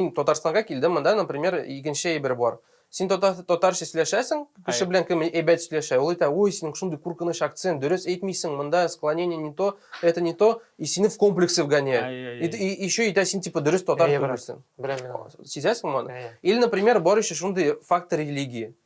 Мин Татарстанга килдем, монда, например, икенче әйбер бар. Син татар, татарча сөйләшәсең, кеше белән кем әйбәт сөйләшә, ул әйтә, ой, синең шундый куркыныч акцент, дөрес әйтмисең, монда склонение не то, это не то, и сине в комплексы вгоняют. И, и еще әйтә, син типа дөрес татар түгелсең. Беләм мин. Сизәсең моны? Или, например, бар еще шундый фактор религии.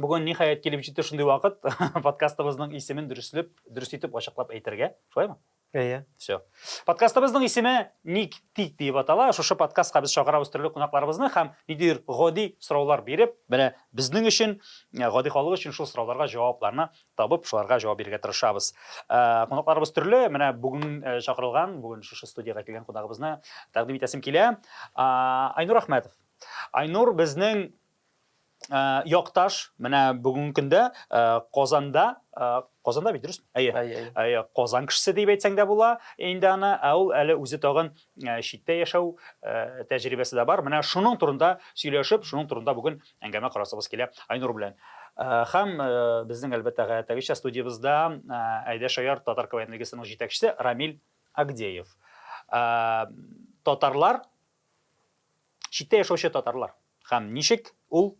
Бүген ниһаять килеп җитте шундый вакыт, подкастыбызның исемен дөреслеп, дөрес итеп ачыклап әйтергә. Шулаймы? Әйе. Все. Подкастыбызның исеме Ник тик дип атала. Шушы подкастка без чакырабыз төрле кунакларыбызны һәм ниндидер гади сораулар биреп, менә безнең өчен, э, гади халык өчен шул сорауларга җавапларны табып, шуларга җавап бирергә тырышабыз. Э, кунакларыбыз төрле. Менә бүген э, чакырылган, бүген шушы студиягә килгән кунагыбызны тәкъдим итәсем килә. Айнур Ахмәтов. Айнур безнең Ә, якташ, менә бүгенге көндә ә, Казанда ә, Казанда бит дөрес? Әйе. Әйе. Әйе, Казан кешесе дип әйтсәң дә була инде аны. Ә ул әле үзе тагын ә, читтә яшәү ә, тәҗрибәсе дә бар. Менә шуның турында сөйләшеп, шуның турында бүген әңгәмә корасыбыз килә Айнур белән. Ә, һәм ә, безнең әлбәттә гадәттәгечә студиябездә ә, Әйдә Шаяр татар КВН лигасының җитәкчесе Рамил Агдеев. Ә, татарлар Читтә яшәүче татарлар һәм ничек ул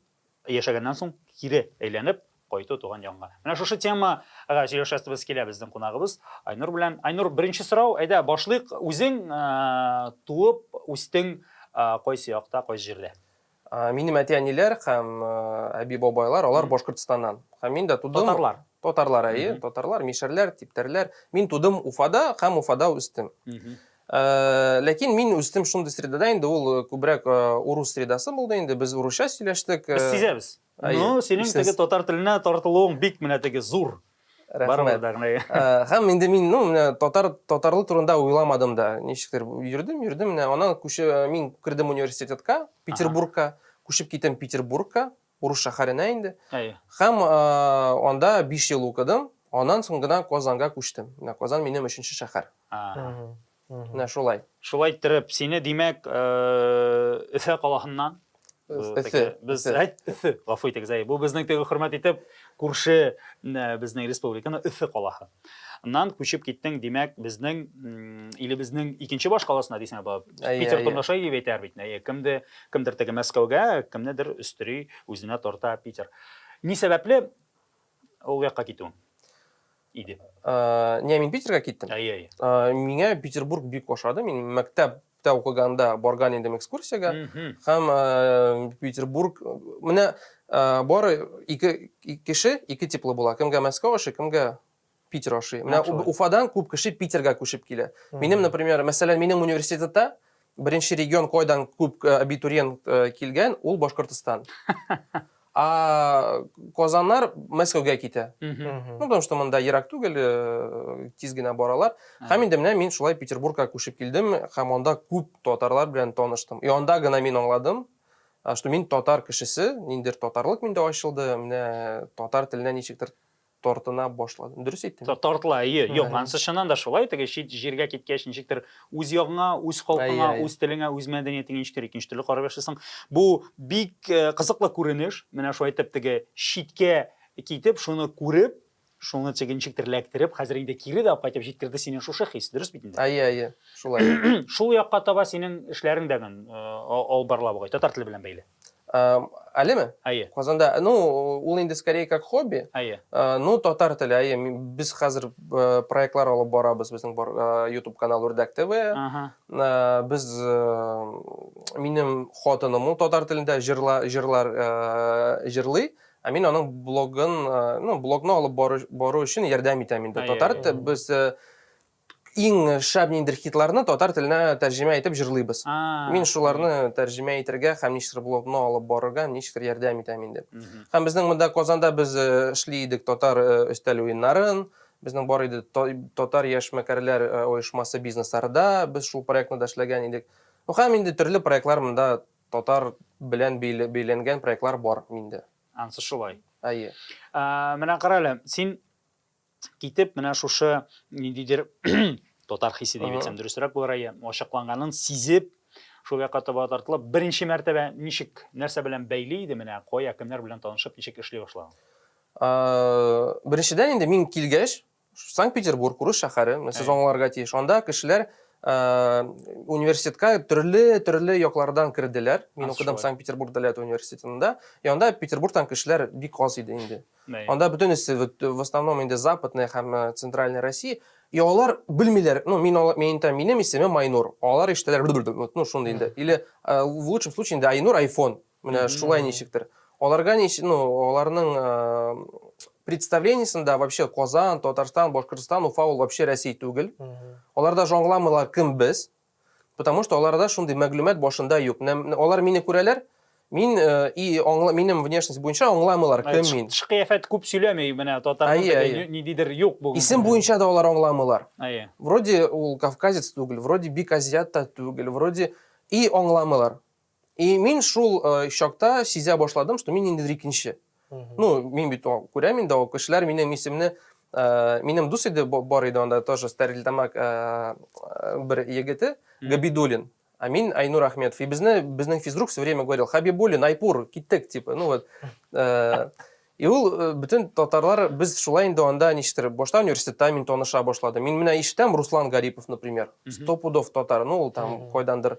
яшәгәннән соң кире әйләнеп кайту туган янга. Менә шушы темага сөйләшәсебез килә безнең кунагыбыз Айнур белән. Айнур, беренче сорау, әйдә башлыйк, үзең туып үстең кайсы якта, кайсы җирдә? А, минем әти-әниләр һәм әби-бабайлар, алар Башкортстаннан. Һәм мин дә тудым. Татарлар. Татарлар, әйе, татарлар, мишәрләр, типтәрләр. Мин тудым Уфада һәм Уфада үстем. Э, ләкин мин үстем шундый средада инде ул э, күбрәк э, урус средасы булды инде без урысча сөйләштек Без сизәбез. Ну, синең теге татар теленә тартылуың бик менә теге зур. Рәхмәт. Һәм инде мин, ну, менә татар татарлы турында уйламадым да. Ничектер йөрдем, йөрдем, менә аннан күче мин кердем университетка, Петербургка, күчеп китәм Петербургка, урыс шәһәренә инде. Һәм анда 5 ел укыдым, аннан соң гына Казанга күчтем. Менә Казан минем өченче шәһәр. Менә шулай. Шулай иттереп, сине, димәк, Өфә э, калаһыннан Өфе. Без әйт, Өфе, гафу итегез, әй, бу безнең теге хөрмәт итеп күрше безнең республиканы Өфе калаһы. Нан күчеп киттең, димәк, безнең илебезнең икенче баш каласына дисәң, баб. Питер Тонгаша дип әйтәр бит. Әйе, кемде, кемдер теге Мәскәүгә, кемнедер өстери үзенә тарта Питер. Ни сәбәпле Ул якка китүем иде. Не, мин Питерга киттем. Әйе, әйе. Миңа Петербург бик ошады. Мин мәктәп мәктәптә укыганда барган идем экскурсиягә һәм э, петербург менә э, бары ике кеше ике типлы була кемгә мәскәү ашы кемгә Питер ашый. Менә Уфадан күп кеше Питерга күчеп килә. Минем, например, мәсәлән, минем университетта беренче регион кайдан күп э, абитуриент э, килгән, ул Башкортостан. А Казаннар Мәскәүгә китә. Ну, потому что монда ерак түгел, э, тиз генә баралар. Һәм инде менә мин шулай Петербургка күчеп килдем, һәм анда күп татарлар белән таныштым. И анда гына мин аңладым, что мин татар кешесе, ниндер татарлык миндә ачылды, менә татар теленә ничектер тартына башладым. Дөрес әйттем? Тартыла, әйе. Юк, анысы чыннан да шулай. Теге чит җиргә киткәч, ничектер үз ягыңа, үз халкыңа, үз телеңә, үз мәдәниятеңә ничектер икенче төрле карап яшисең. Бу бик э, кызыклы күренеш. Менә шулай итеп теге читкә китеп, шуны күреп, шуны теге ничектер эләктереп, хәзер инде кире дә кайтып җиткерде сине шушы хис, дөрес бит инде? Әйе, әйе, шулай. Шул якка таба синең эшләрең дә э, алып барыла бугай, татар теле белән бәйле. әлеме әйе казанда ну ул инде скорее как хобби әйе ну татар теле әйе без хәзер проектлар алып барабыз безнең бар ютуб канал үрдәк тв без минем хатыным ул татар телендә җырла җырлар җырлый ә мин аның блогын ну блогны алып бару өчен ярдәм итәм инде татар без Иң шәп ниндер хитларны татар теленә тәрҗемә итеп җырлыйбыз. Мин шуларны тәрҗемә итергә һәм ничектер блогны алып барырга ничектер ярдәм итәм инде. Һәм безнең монда Казанда без э, эшли идек татар э, өстәл уеннарын, безнең бар иде татар яшьмәкәрләр э, оешмасы бизнесларда без шул проектны да эшләгән идек. Һәм инде төрле проектлар монда татар белән бәйләнгән проектлар бар миндә. Ансы шулай. Әйе. Ә, менә кара әле, син китеп, менә шушы ниндидер татар хисе дип әйтсәм дөресрәк булыр әйе, ачыкланганын сизеп, шул якка таба тартылып, беренче мәртәбә ничек, нәрсә белән бәйли иде менә, кая, кемнәр белән танышып, ничек эшли башлаган? Беренчедән инде мин килгәч, Санкт-Петербург, урыс шәһәре, сез аңларга тиеш. Анда кешеләр университетка төрле-төрле яклардан керделәр. Мин укыдым Санкт-Петербург дәүләт университетында. И анда Петербургтан кешеләр бик аз иде инде. Анда бөтенесе в основном инде западная һәм э, центральная Россия. И алар белмиләр, ну, мин алар, мин әйтәм, минем исемем Айнур. Алар ишетәләр, ну, шундый инде. Или э, в лучшем случае инде Айнур айфон. Менә шулай ничектер. Аларга ничек, ну, аларның э, представлениесында вообще Казан, Татарстан, Башкортостан, Уфа ул вообще Россия түгел. Аларда аңламыйлар кем без. Потому что аларда шундый мәгълүмат башында юк. Алар мине күрәләр, мин э, и аңла, минем внешность буенча аңламыйлар кем мин. Тышкыяфәт күп сөйләми менә татарның ниндидер юк бүген. Исем буенча да алар аңламыйлар. Әйе. Вроде ул кавказец түгел, вроде бик азиат та түгел, вроде и аңламыйлар. И мин шул э, чакта сизә башладым, что мин ниндидер икенче. Ну, мин бит күрәм инде, ул кешеләр минем исемне э, минем дус иде бар иде анда тоже Стәрлетамак э, бер егете Габидулин. А мин Айнур Ахметов. И безне безнең физрук все время говорил: "Хабибулин, Айпур, киттек", типа. Ну вот. И ул э, бүтән татарлар без шулай инде анда ништер башта университетта мин таныша башлады. Мин менә иштәм Руслан Гарипов, например. Сто пудов татар, ну ул там койдандыр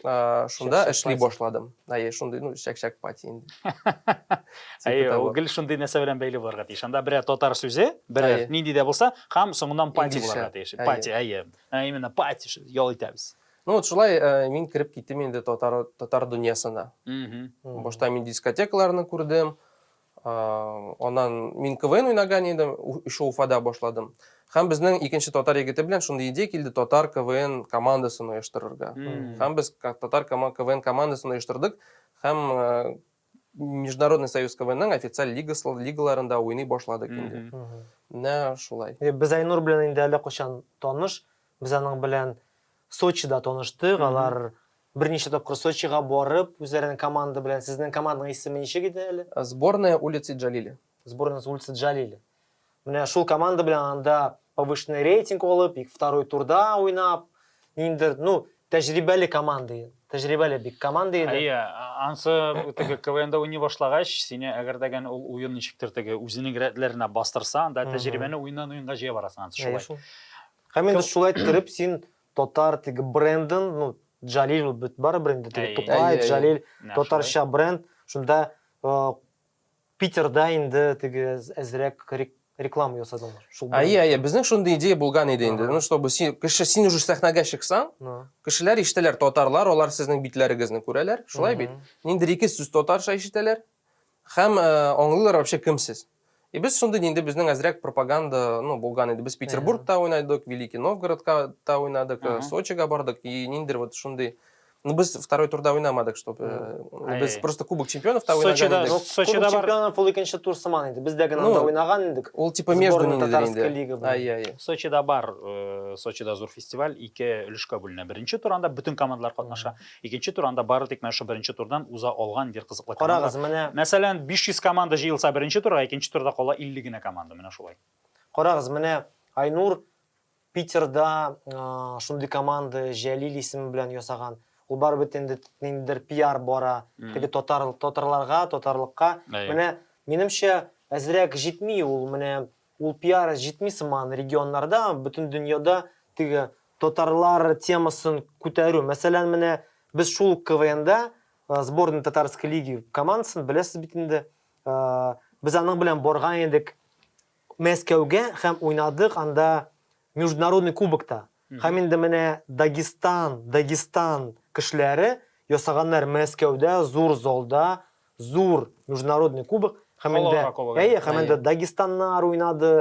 шунда эшли башладым әйе шундый ну чәкчәк пати инде әйе ул гел шундый нәрсә белән бәйле булырга тиеш анда берәр татар сүзе берәр нинди дә булса һәм соңыннан пати булырга тиеш пати әйе именно пати ял итәбез ну вот шулай э, мин кереп киттем инде татар татар дөньясына башта мин дискотекаларны күрдем Аннан мин КВН уйнаган идем, еще Уфада башладым. Һәм безнең икенче татар егете белән шундый идея килде, татар КВН командасын оештырырга. Һәм без татар КВН командасын оештырдык һәм Международный союз КВНның официаль лигасы лигаларында уйный башладык инде. Менә шулай. Без Айнур белән инде әллә кайчан таныш. Без аның белән Сочида таныштык. Алар Берничә тапкыр Сочига барып, үзләренең команда белән, сезнең команданың исеме ничек иде әле? Сборная улицы Джалили. Сборная улицы Джалили. Менә шул команда белән анда повышенный рейтинг алып, и второй турда уйнап, ниндер, ну, тәҗрибәле команда иде. Тәҗрибәле бик команда иде. Әйе, ансы теге КВНда уйный башлагач, сине әгәр дә гән ул уен ничектер теге үзенең рәтләренә бастырса, анда тәҗрибәне уеннан уенга җыя барасың ансы шулай. Һәм инде шулай иттереп син Татар теге брендын, ну, Джалил ул бит барыбер инде теге Тукай, Джалил, татарча бренд. Шунда Питерда инде теге әзрәк реклама ясадылар. Әйе, әйе, безнең шундый идея булган иде инде. Ну, чтобы син, кеше, син уже сәхнәгә чыксаң, кешеләр ишетәләр, татарлар, алар сезнең битләрегезне күрәләр, шулай бит. Ниндидер ике сүз татарча ишетәләр, Хәм аңлыйлар вообще кем сез. И без шундый инде безнең әзрәк пропаганда, ну, булган иде. Без Петербургта уйнадык, Великий Новгородка та уйнадык, Сочига бардык. И ниндер вот шундый Ну, без второй турда уйнамадык, чтобы... Э, без просто Кубок чемпионов та уйнаган Сочида, идек. Сочида Кубок чемпионов ул икенче тур сыман иде. Бездә генә анда уйнаган идек. Ул типа между нинди инде. Ай, ай. Сочида бар, э, Сочида зур фестиваль, ике өлешкә бүленә. Беренче туранда бөтен командалар катнаша. Икенче тур анда бары тик менә шул беренче турдан уза алган индер кызыклы команда. Карагыз, менә. Мәсәлән, 500 команда җыелса беренче турга, икенче турда кала 50 генә команда, менә шулай. Карагыз, менә Айнур Питерда шундый команда Җәлил исеме белән ясаган. Ул барыбер инде ниндидер пиар бара, теге татар татарларга, татарлыкка. Менә минемчә әзрәк җитми ул, менә Ул пиары җитми сыман, регионнарда, бөтен дөньяда теге татарлар темасын күтәрү. Мәсәлән, менә без шул ук КВНда сборная татарской лиги командасын беләсез бит инде. Без аның белән барган идек Мәскәүгә һәм уйнадык анда международный кубокта. Һәм инде менә Дагестан, Дагестан кешеләре ясаганнар Мәскәүдә зур залда зур Международный кубок һәм инде, әйе, һәм инде Дагестаннар уйнады,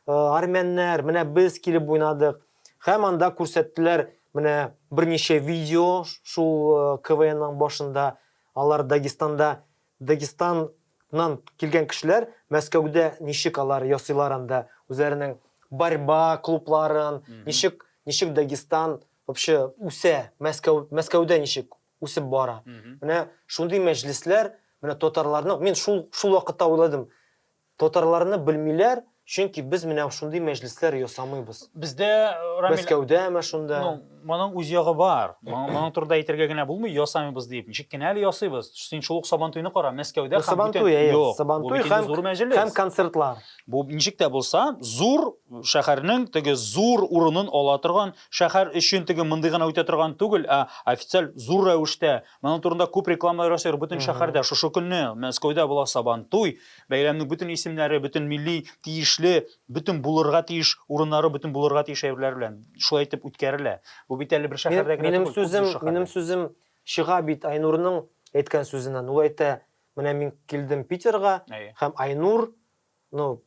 армяннар, менә без килеп уйнадык. Һәм анда күрсәттеләр менә берничә видео шул КВНның башында алар Дагестанда Дагестаннан килгән кешеләр Мәскәүдә ничек алар ясыйлар анда үзләренең борьба клубларын, ничек ничек Дагестан вообще үсә, Мәскәү Мәскәүдә ничек үсеп бара. Менә шундый мәҗлесләр, менә татарларның, мин шул шул вакытта уйладым, Татарларны белмиләр, чөнки без менә шундый мәҗлесләр ясамыйбыз. Бездә, Рамил... Мәскәүдәме шунда? Ну, моның үз ягы бар. Моның турында әйтергә генә булмый, ясамыйбыз дип. Ничек кенә әле ясыйбыз? Син шул ук Сабантуйны кара, Мәскәүдә һәм Сабантуй, әйе. Юк, Сабантуй бу бит инде зур мәҗлес. Һәм концертлар. Бу ничек тә булса, зур шәһәрнең теге зур урынын ала торган, шәһәр өчен теге мондый гына үтә торган түгел, ә официаль зур рәвештә Моның турында күп рекламалар ясыйлар бөтен шәһәрдә. Шушы көнне Мәскәүдә була Сабантуй. Бәйрәмнең бөтен исемнәре, бөтен милли тиешле, бөтен булырга тиеш урыннары, бөтен булырга тиеш әйберләр белән шулай итеп үткәрелә. Бу бит әле бер шәһәрдә генә түгел, күп шәһәрдә. Минем сүзем чыга бит Айнурның әйткән сүзеннән. Ул әйтә, менә мин килдем Питерга һәм Айнур, ну,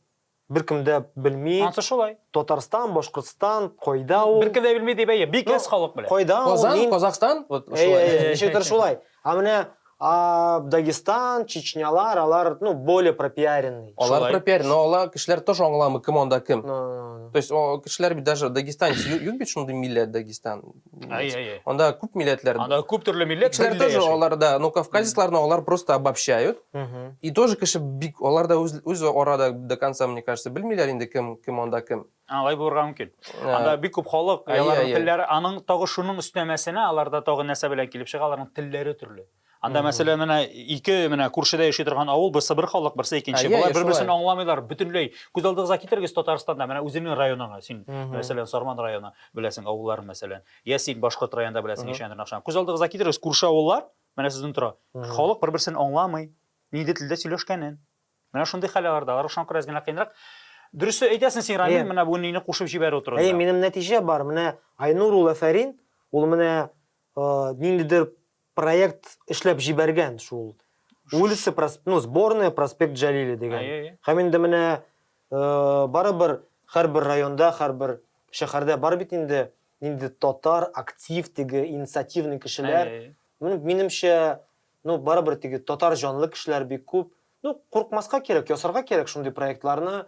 Беркем дә белми. Ансы шулай. Татарстан, Башкортстан, кайда ул? Беркем дә белми дип әйе, бик әз халык белә. Кайда ул? Казан, мин... Казахстан, вот шулай. Әйе, әйе, ничектер шулай. А менә а, Дагестан, Чечнялар, алар, ну, более пропиаренный. Алар шулай. пропиарен, но алар кешеләр тоже аңламый, кем анда кем. No, no, no. То есть, о, кешеләр бит даже Дагестан, юк бит шундый милләт Дагестан. Анда күп милләтләр. Анда күп төрле милләт. Кешеләр тоже алар да, но кавказецларны алар просто обобщают. И тоже кеше бик алар да үз үз арада до конца, мне кажется, белмиләр инде кем кем анда кем. Алай булырга мөмкин. Анда бик күп халык, аларның телләре, аның тагы шуның өстәмәсенә аларда тагы нәрсә белән килеп чыга, аларның телләре төрле. Анда мәсәлән менә ике менә күршедә яши торган авыл, берсе бер халык, берсе икенче. Болар бер-берсен аңламыйлар, бөтенләй. Күз алдыгызга китерегез Татарстанда, менә үзеңнең районыңа, син мәсәлән Сарман районы беләсең, авылларын мәсәлән. Я син башкорт районында беләсең ишәндер нахшан. Күз алдыгызга китерегез күрше авыллар, менә сезнең тора. Халык бер-берсен аңламый, нинди телдә сөйләшкәнен. Менә шундый хәл аларда. Алар шуңа күрә генә кыенрак. Дөрес әйтәсең син, Рамил, менә бу нини кушып җибәрү турында. Әйе, минем нәтиҗә бар. Менә Айнур ул Афәрин, ул менә ниндидер проект эшләп җибәргән шул улица прос- ну сборная проспект Джалили дигән Әйе, әйе. һәм инде менә э, барыбер һәрбер районда һәрбер шәһәрдә бар бит инде инде татар актив теге инициативный кешеләр Әйе, әйе. Ну, минемчә, ну, барыбер теге татар җанлы кешеләр бик күп. Ну, куркмаска кирәк, ясарга кирәк шундый проектларны.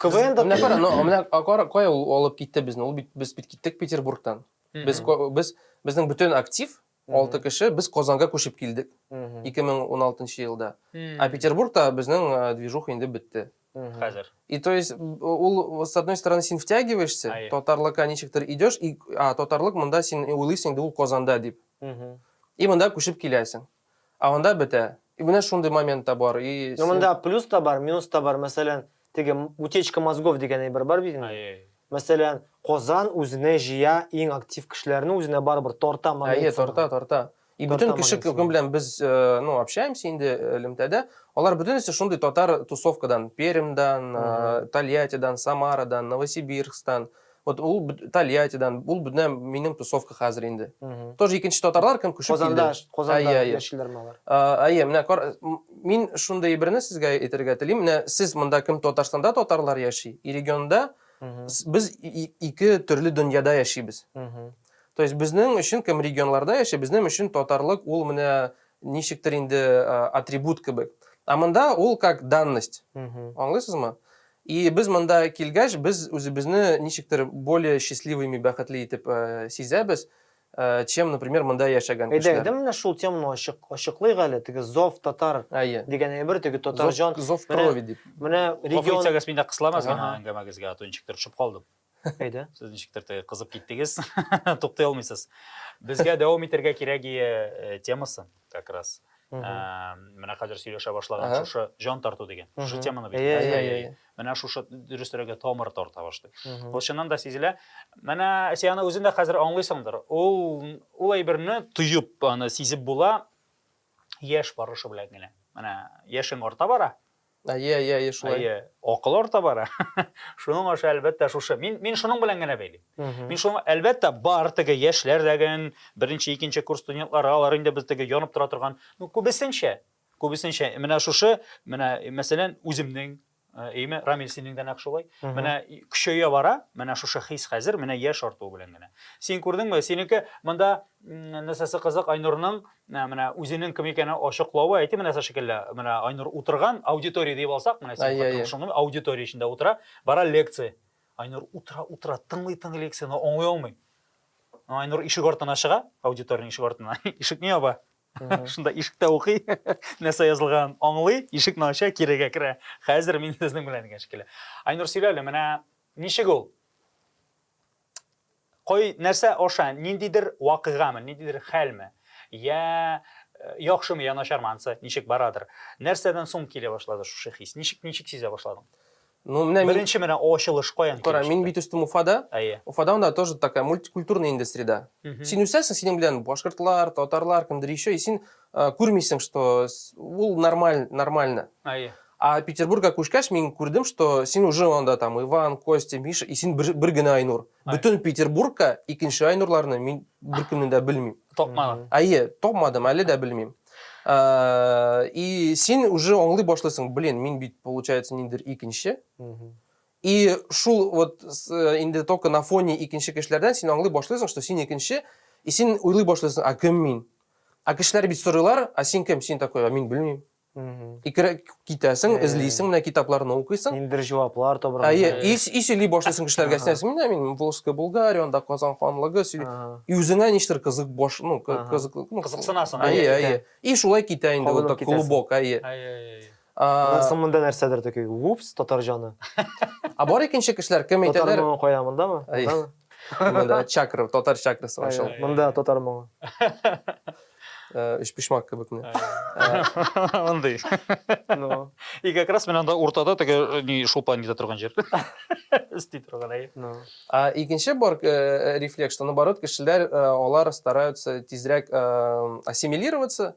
КВН да Менә кара, ну, менә а кара, кая ул алып китте безне? Ул бит без бит киттек Петербургтан. Без, без, безнең бөтен актив, алты кеше, без Казанга күчеп килдек 2016 елда. Ә Петербургта безнең э, движуха инде бетте. Хәзер. И то есть ул с одной стороны син втягиваешься, Ай. татарлыкка ничектер идешь, и а, татарлык монда син уйлыйсың инде ул Казанда дип. И монда күчеп киләсең. Ә анда бетә. И менә шундый момент та бар, и син. Ну монда плюс та бар, минус та бар, мәсәлән, теге утечка мозгов дигән әйбер бар бит инде. Мәсәлән, Казан үзенә җыя иң актив кешеләрне үзенә барыбер тарта момент. Әйе, тарта, тарта. И бөтен кеше кем белән без, ну, общаемся инде элемтәдә, алар бөтенесе шундый татар тусовкадан, Пермьдан, Тольяттидан, Самарадан, Новосибирскстан. Вот ул Тольяттидан, ул менә минем тусовка хәзер инде. Тоже икенче татарлар кем күчеп килде. Казанда, Казанда яшиләрме алар? Әйе, менә кар, мин шундый берне сезгә әйтергә телим. Менә сез монда кем Татарстанда татарлар яши, и регионда без ике төрле дөньяда яшибез. То есть безнең өчен кем регионларда яши, безнең өчен татарлык ул менә ничектер инде атрибут кебек. А монда ул как данность. Аңлыйсызмы? И без монда килгәч, без үзебезне ничектер более счастливыми, бәхетле итеп сизәбез, чем, например, монда яшәгән кешеләр. Әйдә, әйдә менә шул теманы ачык, ачыклыйк әле, теге зов татар дигән әйбер, теге татар җан. Зов крови дип. Менә регион. Гафу итсәгез, мин дә кысыламын әңгәмәгезгә, а то ничектер төшеп калдым. Әйдә. Сез ничектер теге кызып киттегез, туктый алмыйсыз. Безгә дәвам итәргә кирәк ие э, темасы как раз. Мгм. Ә, Менә хәзер сөйләшә башлаган Ага. шушы җан тарту дигән. Шушы Мгм. теманы бит. Әйе, әйе, әйе. Менә шушы дөресрәге тамыр тарта башлый. Мгм. Ул чыннан да сизелә. Менә син аны үзең дә хәзер аңлыйсыңдыр. Ул ул әйберне тоеп, аны сизеп була яшь барышы белән генә. Менә яшең арта бара, Әйе, әйе, әйе, шулай. Әйе, акыл орта бара. Шуның аша әлбәттә шушы. Мин мин шуның белән генә бәйлим. Мин шуның әлбәттә бар теге яшьләр дәген, беренче, икенче курс студентлары, алар инде без теге янып тора торган, ну күбесенчә, күбесенчә менә шушы, менә мәсәлән, үземнең Әйме, э, Рамил синең дә нәкъ шулай. Менә көчәя бара, менә шушы хис хәзер, менә яшь артуы белән генә. Син күрдеңме, синеке монда нәрсәсе кызык Айнурның Менә менә үзенең кем икәнен ачыклавы әйти менә сә шикелле. Менә Айнур утырган аудитория дип алсак, менә син хатын шуны аудитория эчендә утыра, бара лекция. Айнур утыра, утыра, тыңлый, тыңлый лекцияне, аңлый алмый. Айнур ишек артына чыга, аудиториянең ишек артына, ишекне яба. Шунда ишектә укый, нәрсә язылган, аңлый, ишекне ача, кирегә керә. Хәзер мин сезнең белән дигән шикелле. Айнур сөйлә әле, менә ничек ул? Кай нәрсә аша, ниндидер вакыйгамы, ниндидер хәлме, йә яхшымы, йә начармы, ансы ничек барадыр, нәрсәдән соң килә башлады шушы хис? Ничек, ничек сизә башладың? Ну, менә мин... Беренче менә ачылыш каян килеп чыкты? Кара, мин бит үстем Уфада. Әйе. Уфада анда тоже такая мультикультурная инде среда. Син үсәсең, синең белән башкортлар, татарлар, кемдер еще, и син күрмисең что ул нормаль нормально әйе а петербургка күчкәч мин күрдем что син уже анда там иван костя миша и син бер, бер генә айнур бөтен петербургка икенче айнурларны мин беркемне дә белмим тапмадың әйе тапмадым әле дә белмим и син уже аңлый башлыйсың блин мин бит получается ниндер икенче и шул вот э, инде только на фоне икенче кешеләрдән син аңлый башлыйсың что син икенче и син уйлый башлыйсың а кем мин Ә кешеләр бит сорыйлар, а син кем, син такой, а мин белмим. Икерәк китәсең, эзлисең, менә китапларны укыйсың. Ниндер җаваплар табырга. Әйе, и, и сөйли башлыйсың кешеләргә, син әйтерсең, менә мин Волжская Булгария, анда Казан ханлыгы, и үзеңә ништер кызык баш, ну, кызык, ну, кызыксынасың. Әйе, әйе. И шулай китә инде вот так клубок, әйе. Әйе, әйе. Менә соң монда нәрсәдер тәки. Упс, татар җаны. А бар икенче кешеләр кем әйтәләр? Татар моңы кая монда ма? Монда чакра, татар чакрасы бар шул. Монда татар моңы. Үч пишмак кебек менә. Мондый. Ну. И как раз менә анда уртада теге ни шулпан итә торган җир. Өсти торган әй. Ну. А икенче бар рефлекс, что наоборот кешеләр алар стараются тизрәк ассимилироваться.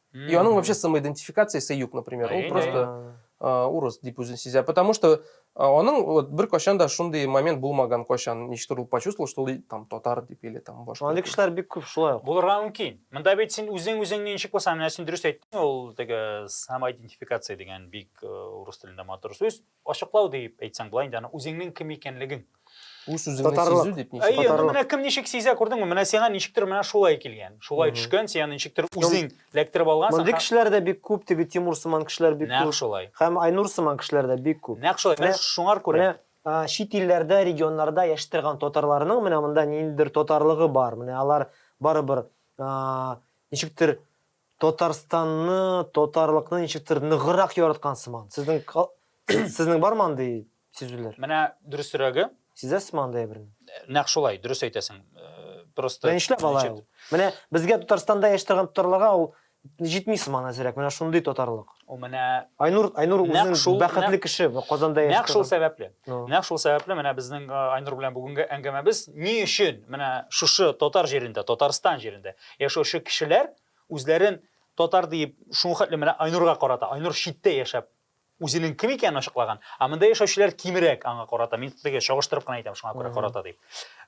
И оно вообще самоидентификация сәюк, например. Ул просто урыс дип үзен сизә. Потому что аның вот бер кашан да шундый момент булмаган кашан. Ничтер ул почувствовал, что ул там татар дип или там башка. Андый кешеләр бик күп шулай. Булырга мөмкин. Монда бит син үзең үзеңне ничек булсаң, менә син дөрес әйттең, ул теге самоидентификация дигән бик урыс телендә матур сүз. Ачыклау дип әйтсәң, болай инде аны үзеңнең кем икәнлегең. Үз үзеңне сизү дип ничек? Әйе, ну менә кем ничек сизә, күрдеңме? Менә сиңа ничектер менә шулай килгән. Шулай төшкән, сиңа ничектер үзең ләктереп алгансың. Мондый кешеләр дә бик күп, теге Тимур сыман кешеләр бик күп. Нәкъ шулай. Һәм Айнур сыман кешеләр дә бик күп. Нәкъ шулай. Менә шуңар күрә. Менә чит илләрдә, регионнарда яши торган татарларның менә монда ниндидер татарлыгы бар. Менә алар барыбер ничектер Татарстанны, татарлыкны ничектер ныгырак яраткан сыман. Сезнең сезнең бармы андый сизүләр? Менә дөресрәге. Сизәсезме андый әйберне? Нәкъ шулай, дөрес әйтәсең. Э, просто Менә нишләп алай ул? Менә безгә Татарстанда яши торган татарларга ул җитми сыман әзрәк. Менә шундый татарлык. Ул менә Айнур Айнур үзен шул бәхетле кеше Казанда яшәп. Нәкъ шул сәбәпле. Нәкъ шул сәбәпле менә безнең Айнур белән бүгенге әңгәмәбез ни өчен менә шушы татар җирендә, Татарстан җирендә яшәүче кешеләр үзләрен татар диеп шул хәтле менә Айнурга карата. Айнур читтә яшәп үзенең кем икәнен ачыклаган, а монда яшәүчеләр кимрәк аңа карата. Мин теге чагыштырып кына әйтәм, шуңа күрә карата дип.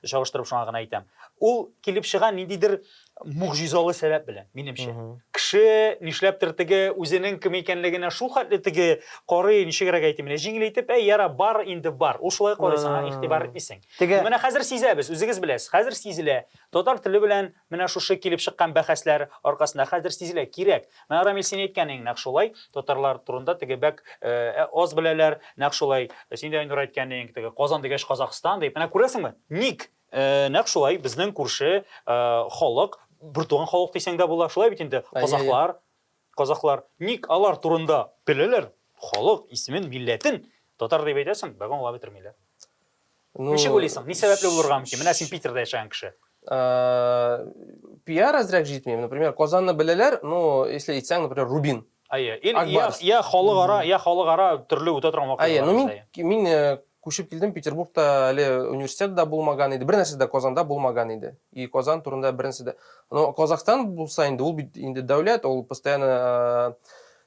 Чагыштырып шуңа гына әйтәм. Ул килеп чыга ниндидер могҗизалы сәбәп белән, минемчә. Кеше нишләптер теге үзенең кем икәнлегенә шул хәтле теге карый, ничегрәк әйтим, менә җиңел итеп, әй, яра, бар инде бар. Ул шулай карый, сиңа игътибар итмисең. Теге... Менә хәзер сизәбез, үзегез беләсез, хәзер сизелә. Татар теле белән менә шушы килеп чыккан бәхәсләр аркасында хәзер сизелә, кирәк. Менә Рамил син әйткәнең нәкъ шулай, татарлар турында теге бәк э, аз беләләр, нәкъ шулай. Син дә Айнур әйткәнең, теге Казан дигәч Казахстан дип. Менә күрәсеңме? Ник? Ә, нәкъ шулай, безнең күрше халык, бертуган халык дисәң дә була, шулай бит инде, казахлар, казахлар. Ник алар турында беләләр? Халык исемен, милләтен татар дип әйтәсең, бәгә аңлап бетермиләр. Ну, Ничек уйлыйсың, ни сәбәпле булырга мөмкин? Менә син Питерда яшәгән кеше. Э, пиар әзрәк җитми. Например, Казанны беләләр, ну, если әйтсәң, например, Рубин. Әйе, я халыкара, я халыкара төрле үтә торган вакыйгалар. Әйе, ну мин мин э, Күчеп килдем, Петербургта әле университет дә булмаган иде, бернәрсә дә Казанда булмаган иде. И Казан турында беренче дә. Но Казахстан булса инде, ул бит инде дәүләт, ул постоянно э,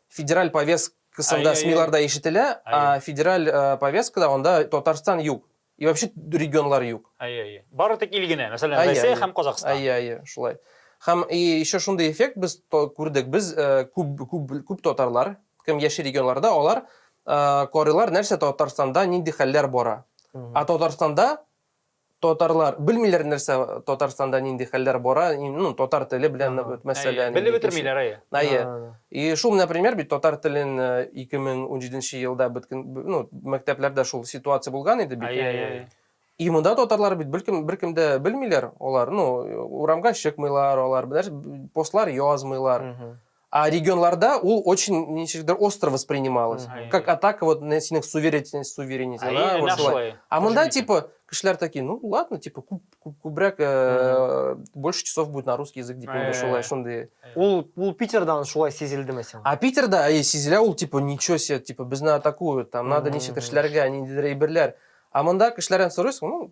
федераль повесткасында СМИларда ишетелә, а федераль э, повесткада анда Татарстан юк. И вообще регионлар юк. Әйе, әйе. Бары тик ил генә, мәсәлән, Россия һәм Казахстан. Әйе, әйе, шулай. Һәм и еще шундый эффект без күрдек, без э, күп күп күп татарлар Кем яши регионларда, алар карыйлар, нәрсә Татарстанда, нинди хәлләр бара. А Татарстанда татарлар белмиләр нәрсә Татарстанда нинди хәлләр бара, ну, татар теле белән мәсьәлә. Белеп бетермиләр, әйе. Әйе. И шул, например, бит татар телен 2017 э, елда бөткен, ну, мәктәпләрдә шул ситуация булган иде бит. Әйе, әйе. И монда татарлар бит беркем беркем дә белмиләр, алар, ну, урамга чыкмыйлар, алар, бер постлар язмыйлар. А регионларда ул очень ничектер остро воспринималось. Мгм. Как атака вот на синең суверенитет, суверенитет. Әйе, да, вот нәкъ шулай. шулай. А мында Кошелек. типа кешеләр такие, ну ладно, типа күп, күп, күбрәк э, больше часов будет на русский язык дип инде Э. шулай шундый. Ул, ул Питердан шулай сизелдеме сиңа? А Питерда әйе сизелә ул типа ничего себе, типа безне атакуют, там надо Мгм. ничектер эшләргә, ниндидер әйберләр. А мында кешеләрдән сорыйсың, ну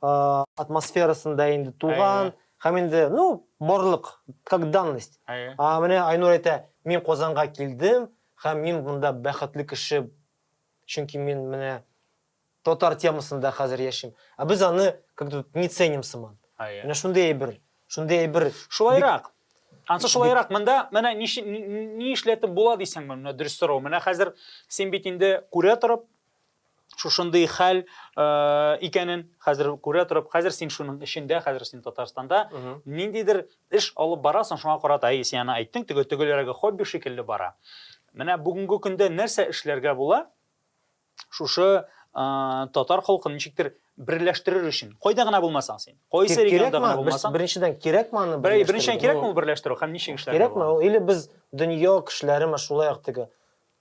атмосферасын да инде туган һәм инде, ну, барлык, как данность. А менә Айнур әйтә, мин Казанга килдем һәм мин монда бәхетле кеше, чөнки мин менә татар темасында хәзер яшим. Ә без аны как то не ценим сыман. Менә шундый әйбер, шундый әйбер. Шулайрак. Ансы шулайрак, монда менә ни эшләтеп була дисәң, менә дөрес сорау. Менә хәзер син бит инде күрә торып, шушындый хәл э, икәнен хәзер күрә торып, хәзер син шуның эчендә, хәзер син Татарстанда ниндидер эш алып барасың, шуңа карата әй син аны әйттең, теге төгеләрәге хобби шикелле бара. Менә бүгенге көндә нәрсә эшләргә була? Шушы э, татар халкын ничектер берләштерер өчен. Кайда гына булмасаң син. Кайсы регионда гына булмасаң. Беренчедән кирәкме аны? Беренчедән кирәкме берләштерү һәм ничек эшләргә? Кирәкме? Или без дөнья кешеләреме шулай ук теге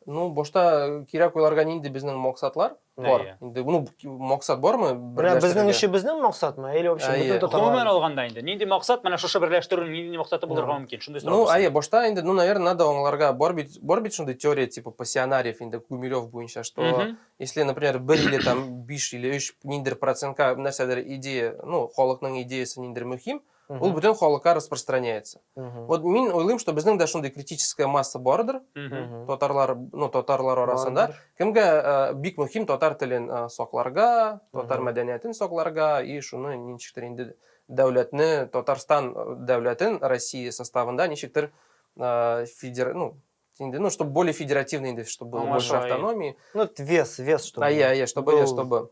Ну, башта кирәк уйларга нинди безнең максатлар бар. Инде ну максат бармы? Менә безнең эшебезнең максатмы? Или вообще бөтен татарлар? Гомумән алганда инде нинди максат менә шушы берләштерү нинди максаты булырга мөмкин? Шундый сорау. Ну, әйе, башта инде ну, наверное, надо аңларга бар бит, бар бит шундый теория типа пассионариев инде Гумилев буенча, что если, например, бер или там 5 или 3 ниндер процентка нәрсәдер идея, ну, халыкның идеясы ниндер мөһим, ул бүтән халыкка распространяется вот мин уйлыйм что безнең дә шундый критическая масса бардыр татарлар ну татарлар арасында кемгә э, бик мөһим татар телен э, сакларга татар мәдәниятен сакларга и шуны ничектер инде дәүләтне татарстан э, дәүләтен россия составында ничектер федер ну инде, ну, чтобы более федеративный инде, чтобы было больше автономии. Ну, вес, вес, чтобы. А я, я, чтобы, чтобы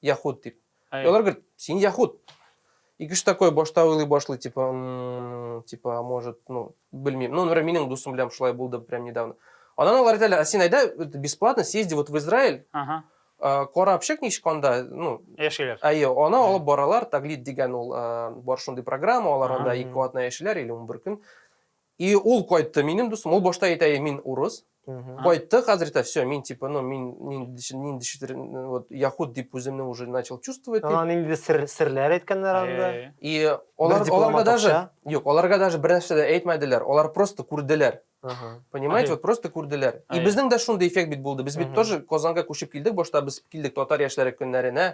Яхуд дип. И алар говорит, син яхуд. И кеше такой башта уйлый башлый, типа, типа, а может, ну, белмим. Ну, например, минем дусым белән шулай булды прям недавно. Анан алар әйтәләр, а син айда бесплатно съезди вот в Израиль. Ага. Карап чык ничек анда, ну, яшиләр. Әйе, аны алып баралар, таглит дигән ул бар шундый программа, алар анда ике атна яшиләр или 11 көн. И ул кайтты минем дустым ул башта әйтә и мин урыс кайтты хәзер әйтә все мин типа ну мин ниндидер вот яхуд дип үземне уже начал чувствовать дип нинди сер серләр әйткәннәр анда и алар аларга даже юк аларга даже бер нәрсә дә әйтмәделәр алар просто күрделәр понимаете вот просто күрделәр и безнең дә шундый эффект бит булды без бит тоже казанга күчеп килдек башта без килдек татар яшьләре көннәренә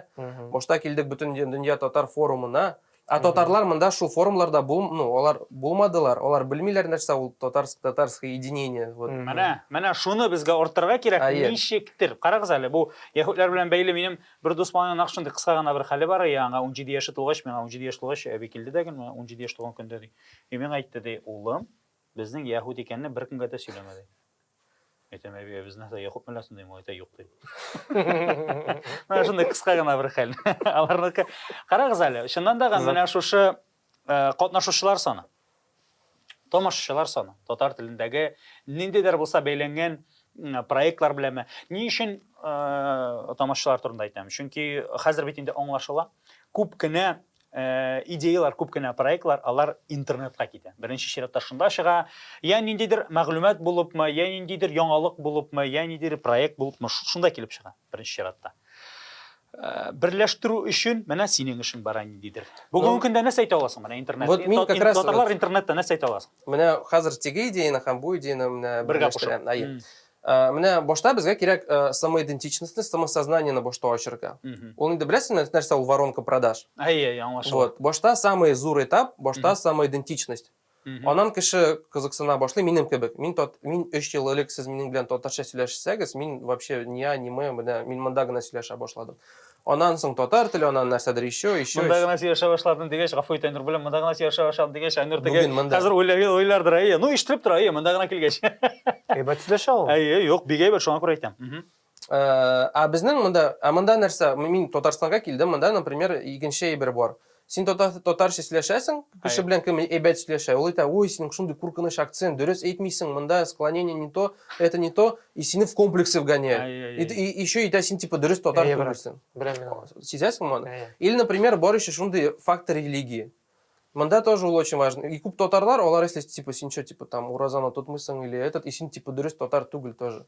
башта килдек бөтен дөнья татар форумына Ә татарлар монда шул форумларда бул, ну, алар булмадылар, алар белмиләр нәрсә ул татарск, татарское единение, вот. Менә, менә шуны безгә арттырырга кирәк, Әйе. ничектер. Карагыз әле, бу яһүдләр белән бәйле минем бер дус малайның нәкъ шундый кыска гына бер хәле бар, и аңа унҗиде яше тулгач, миңа унҗиде яшь тулгач, әби килде дә гел, менә унҗиде яшь тулган көндә, ди, и миңа әйтте, ди, улым, Безнең яһүд икәнне беркемгә дә сөйләмә, ди. Әйтәм, әби, ә безнең дә яһүдме ләсен дим, әйтә, юк, ди. Менә шундый кыска гына бер хәл. Аларныкы. Карагыз әле, чыннан да менә шушы катнашучылар саны, тамашачылар саны, татар телендәге ниндидер булса бәйләнгән проектлар беләме? Ни өчен тамашачылар турында әйтәм? Чөнки хәзер бит инде аңлашыла, күп кенә Э, идеялар күп кенә проектлар алар интернетка китә беренче чиратта шунда чыга я ниндидер мәгълүмат булыпмы я ниндидер яңалык булыпмы я ниндидер проект булыпмы шунда килеп чыга беренче чиратта э, берләштерү өчен менә синең эшең бара ниндидер бүгенге ну, көндә нәрсә әйтә аласың менә интернет вот мин как раз татарлар интернетта нәрсә әйтә аласың менә хәзер теге идеяны һәм бу идеяны менә бергә кушып Ә, менә башта безгә кирәк ә, самоидентичностьны, самосознаниены башта ачырга. Ул инде беләсезме, нәрсә ул воронка продаж? Әйе, аңлашылды. Вот, башта самый зур этап, башта самоидентичность. Анан кеше кызыксына башлый, минем кебек. Мин тот, мин 3 ел элек сез минем белән татарча сөйләшсәгез, мин вообще не а, не мы, менә мин монда гына сөйләшә башладым. Аннан соң татар теле, аннан нәрсәдер еще, еще. Монда гына сөйләшә башладым дигәч, гафу ит, Айнур белән, монда гына сөйләшә башладым дигәч, Айнур теге хәзер уйлардыр, әйе, ну ишетелеп тора, әйе, монда гына килгәч. Әйбәт сөйләшә ул. Әйе, юк, бик әйбәт, шуңа күрә әйтәм. Э, ә безнең монда, ә монда нәрсә? Мин Татарстанга килдем, монда, например, икенче әйбер бар. Син татар, татарча сөйләшәсең, кеше белән кем әйбәт сөйләшә, ул әйтә, ой, синең шундый куркыныч акцент, дөрес әйтмисең, монда склонение не то, это не то, и сине в комплексы вгоняют. И, и, и еще әйтә, син типа дөрес татар түгелсең. Сизәсең моны? Или, например, бар еще шундый фактор религии. Монда тоже ул очень важно. И күп татарлар, алар если типа син что, типа там уразаны тотмыйсың или этот, и син типа дөрес татар түгел тоже.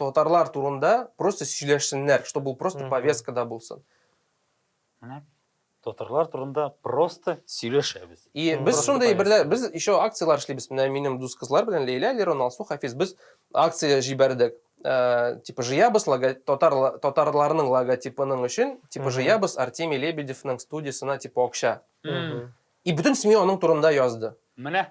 Татарлар турында просто сөйләшсеннәр, чтобы ул просто повесткада булсын. Менә татарлар турында просто сөйләшәбез. И без шундый берлә без еще акцияләр эшлибез. Менә минем дус кызлар белән Лейлә, Лерон, Алсу, Хафиз без акция җибәрдек. Э, типа жыябыз лого, татар, татарларның логотипының өчен типа жыябыз Артемий Лебедевның студиясына типа акча. И бөтен семья аның турында язды. Менә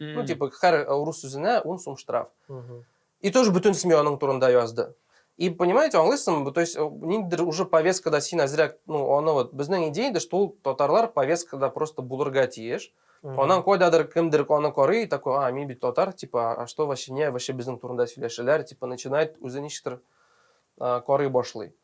Mm. Ну, типа, һәр э, урыс үзенә ун сум штраф. Mm -hmm. И тоже бөтен семья аның турында язды. И понимаете, аңлыйсыңмы? То есть, э, ниндидер уже повесткада син әзрәк, ну, аны вот, безнең идея да, что ул татарлар повесткада просто булырга тиеш. Анан койдадыр кемдер аны карый, такой, а, мин бит татар, типа, а что вообще не, вообще безнең турында сөйләшәләр, типа, начинает үзе ничектер карый башлый.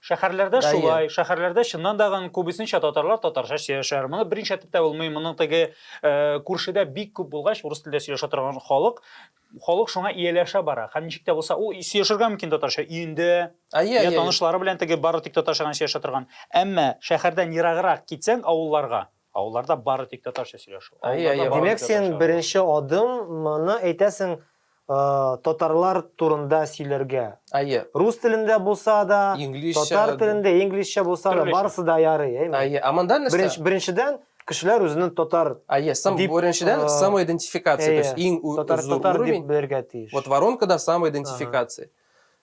Шәһәрләрдә Дайы. шулай, шәһәрләрдә чыннан да гын күбесенчә татарлар татарча сөйләшәләр. Моны берничә әйтеп тә булмый. Моның теге э, күршедә бик күп булгач, урыс телендә сөйләшә торган халык, халык шуңа ияләшә бара. Һәм ничек тә булса, ул сөйләшергә мөмкин татарча өендә, Әйе, я әйе. танышлары белән теге бары тик татарча гына сөйләшә торган. Әмма шәһәрдән ераграк китсәң, авылларга, Авылларда бары тик татарча сөйләшү. Димәк, син беренче адым моны әйтәсең татарлар турында сөйләргә. Әйе. Рус телендә булса да, татар телендә, инглизчә булса да, барысы да ярый, әйме? Әйе. Ә монда нәрсә? Беренчедән, кешеләр үзенең татар. Әйе, сам беренчедән самоидентификация, то есть иң зур уровень. Татар дип белергә тиеш. Вот воронкада самоидентификация.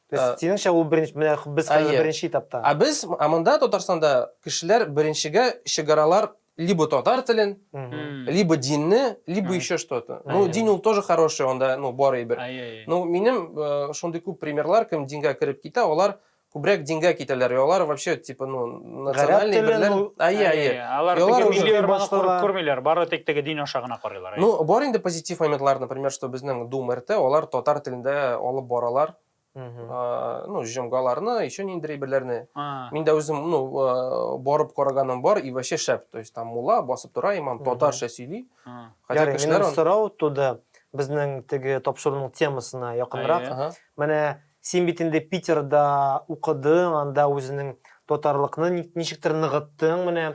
То есть, э, синеңчә ул беренче, менә без хәзер Әйе. беренче этапта. Ә без, ә монда Татарстанда кешеләр беренчегә чыгаралар либо татар телен, Мгм. либо динне, либо Мгм. еще что-то. Ну, Әйе. дин ул тоже хороший, анда, ну, бар әйбер. Әйе, әйе. Ну, минем э, шундый күп примерлар, кем дингә кереп китә, алар күбрәк дингә китәләр, и алар вообще, типа, ну, Национальный телен берләр. ул- Әйе, әйе. Әйе, Алар Ялар теге уже милли арбаны башта күреп да- күрмиләр, бары тик теге дин аша гына карыйлар. әйе. Ну, бар инде позитив моментлар, например, что безнең Дум РТ, алар татар телендә алып баралар. Мгм. А, Ну, җомгаларны, еще ниндирәй берләрне. А, Мин дә үзем, ну, э, барып караганым бар, и вообще шәп. То есть там мулла басып тора, имам Мгм. татарча сөйли. а. Хотя Ярый, кешеләр минем аны- сорау туды. Безнең теге тапшыруның темасына якынрак. Әйе. Ага. Менә Син бит инде Питерда укыдың, анда үзенең татарлыкны ничектер ныгыттың менә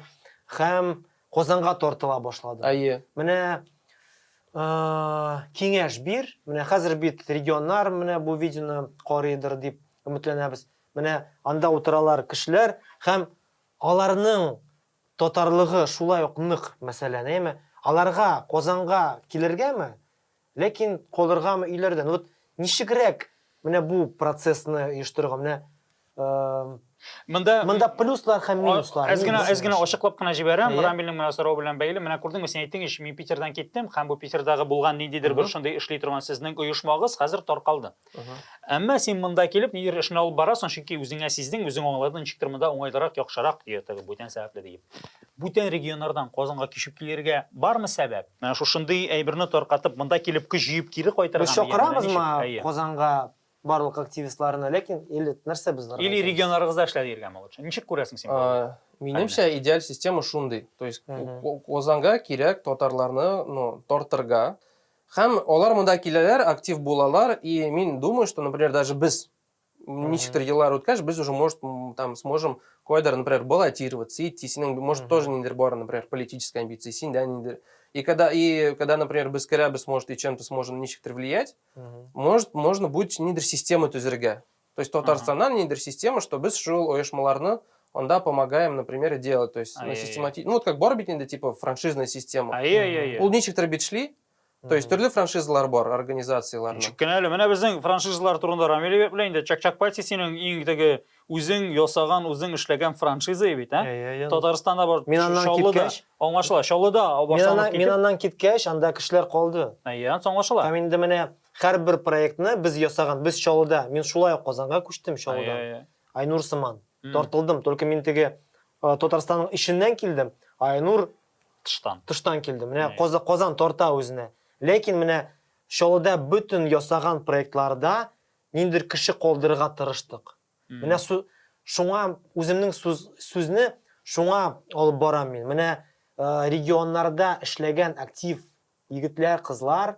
һәм Казанга тартыла башладың. Әйе. Менә киңәш бир, менә хәзер бит регионнар менә бу видеоны карыйдыр дип өметләнәбез. Менә анда утыралар кешеләр һәм аларның татарлыгы шулай ук нык мәсәлән, әйме? Аларга Казанга килергәме? Ләкин калыргамы өйләрдә? Ну вот ничегрәк менә бу процессны оештырырга? Менә Монда монда плюслар һәм минуслар. Әз генә әз генә ачыклап кына җибәрәм, Рамилнең менә сорау белән бәйле. Менә күрдеңме, син әйттең ич, мин Питердан киттем, һәм бу Питердагы булган ниндидер бер шундый эшли торган сезнең оешмагыз хәзер таркалды. Әмма син монда килеп нидер эшне алып барасың, чөнки үзеңә сиздең, үзең аңладың, ничектер монда уңайлырак, яхшырак, ди теге бүтән сәбәпле диеп. Бүтән регионнардан Казанга кичеп килергә бармы сәбәп? Менә шушындый әйберне таркатып, монда килеп көч җыеп кире кайтырга. Без чакырамызмы Казанга барлык активистларны, ләкин или нәрсә без аларга? Или регионнарыгызда эшләп йөргәнме лучше? Ничек күрәсең син моны? Минемчә, идеаль система шундый. То есть Казанга кирәк татарларны, ну, тартырга, Һәм алар монда киләләр, актив булалар, и мин думаю, что, например, даже без ничектер еллар үткәч, без уже, может, там сможем кайдыр, например, баллотироваться, идти, синең, может, тоже ниндер бар, например, политическая амбиция, синдә ниндер. И когда, и когда, например, без керәбез, может, и чем-то сможем ничектер влиять, может, можно будет ниндер система төзергә. То есть Татарстаннан ниндидер система, что без шул оешмаларны анда помогаем, например, делать. То есть, ну, системати... ну вот как бар бит инде типа франшизная система. Ай, ай, ай. Ул ничектер бит шли, То есть төрле франшизалар бар, организациялар. Ничек кенә әле, менә безнең франшизалар турында Рамил әйбәт белән инде Чак-Чак Пати синең иң теге үзең ясаган, үзең эшләгән франшиза бит, ә? Татарстанда бар. Мин аннан киткәч, аңлашыла, Чаллыда башланып китте. Мин аннан киткәч, анда кешеләр калды. Әйе, аңлашыла. Һәм инде менә Һәрбер проектны без ясаган, без Чаллыда, мин шулай ук Казанга күчтем Чаллыдан. Ай-яй-яй. Айнур сыман. М. Тартылдым, только мин теге э, Татарстанның эченнән килдем, а Айнур Тыштан. тыштан килде. Менә Әй. Каза- Казан тарта үзенә. Ләкин менә Чаллыда бөтен ясаган проектларда ниндидер кеше калдырырга тырыштык. М. Менә су- шуңа үземнең сүз, сүзне шуңа алып барам мин. Менә э, регионнарда эшләгән актив Егетләр, кызлар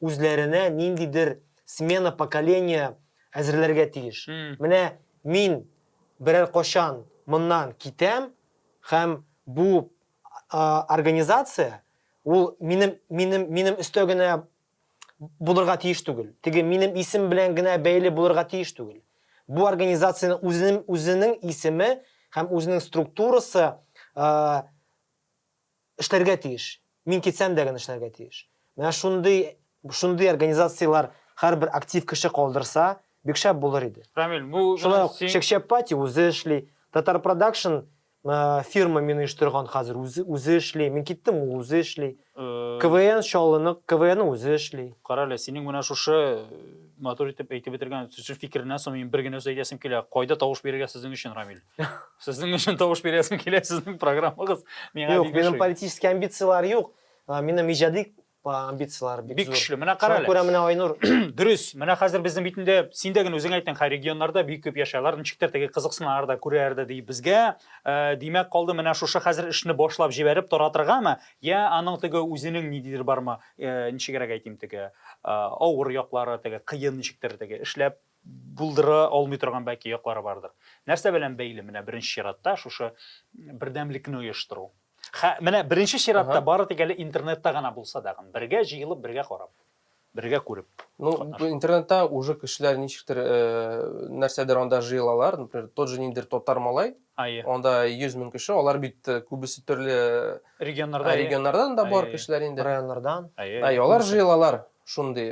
үзләренә ниндидер смена поколения әзерләргә тиеш. Менә мин берәр качан моннан китәм һәм бу организация ул минем, минем, минем өстә генә булырга тиеш түгел. Теге минем исем белән генә бәйле булырга тиеш түгел. Бу организациянең үзенең, үзенең исеме һәм үзенең структурасы Эшләргә тиеш. Мин китсәм дә генә эшләргә тиеш. Менә шундый, шундый организацияләр һәрбер актив кеше калдырса, бик шәп булыр иде. Рамил, бу Шулай ук Чәкчәппати үзе эшли, Татар Продакшн фирма мин оештырган хәзер үзе, үзе эшли. Мин киттем, ул үзе эшли. КВН Чаллыны, КВН үзе эшли. Кара әле, синең менә шушы матур итеп әйтеп бетергән сүз фикереннән соң мин бер генә сүз әйтәсем килә. Кайда тавыш бирергә сезнең өчен, Рамил? Сезнең өчен тавыш бирәсем килә, сезнең программагыз миңа Юк, минем политический амбицияләр юк. Минем иҗади амбицияләр бик, бик көчле. Менә кара әле. Күрә менә Айнур. Дөрес. Менә хәзер безнең бит инде син дә генә үзең әйттең, хай регионнарда бик күп яшәләр, ничектер теге кызыксыналар да, күрәләр дә ди. Безгә э, димәк калды менә шушы хәзер эшне башлап җибәреп торатыргамы? Я аның теге үзенең нидидер бармы? Э, ничегрәк әйтим теге э, авыр яклары, теге кыен ничектер теге эшләп булдыра алмый торган бәлки яклары бардыр. Нәрсә белән бәйле? Менә беренче чиратта шушы бердәмлекне оештыру. Хә, менә беренче чиратта ага. бары тик әле интернетта гына булса да, бергә җыелып, бергә карап, бергә күреп. Ну, бу интернетта уже кешеләр ничектер э, нәрсәдер анда җыелалар, например, тот же ниндер татар малай. Ае. Анда 100 мең кеше, алар бит э, күбесе төрле регионнарда, регионнардан да бар кешеләр инде. Районнардан. Ае, алар җыелалар. Шундый.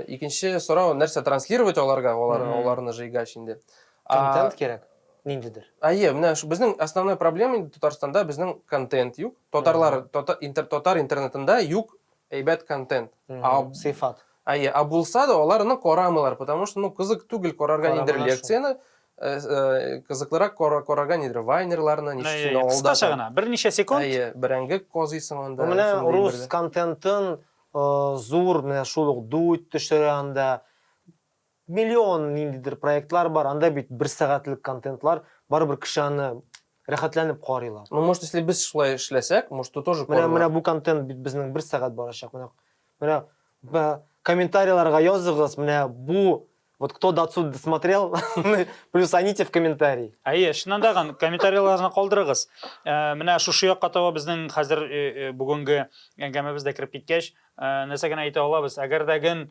Икенче сорау, нәрсә транслировать аларга, аларны жыйгач инде. Контент кирәк, ниндидер. Әйе, менә безнең основной проблема инде Татарстанда безнең контент юк. Татарлар татар интернетында юк әйбәт контент. Сыйфат. Әйе, ә булса да аларны карамыйлар, потому что ну кызык түгел карарга нидер лекцияне, кызыклырак карарга нидер вайнерларны, ничек авылда. Кыскача гына, берничә секунд. Әйе, бәрәңге казыйсың анда. Менә рус контентын Зур, менә шул ук Дудь төшерә анда. Миллион ниндидер проектлар бар, анда бит бер сәгатьлек контентлар, барыбер кеше аны рәхәтләнеп карыйлар. Ну, может, если без шулай эшләсәк, может, то тоже карыйлар. Менә бу контент бит безнең бер сәгать барачак. Менә комментарийларга языгыз, менә бу Вот кто до отсюда досмотрел, плюс аните в комментарии. Әйе, чыннан да ган комментарийларны калдырыгыз. Э, менә шушы якка таба безнең хәзер э, э, бүгенге әңгәмәбез дә кереп киткәч, нәрсә генә әйтә алабыз? Әгәр дә ген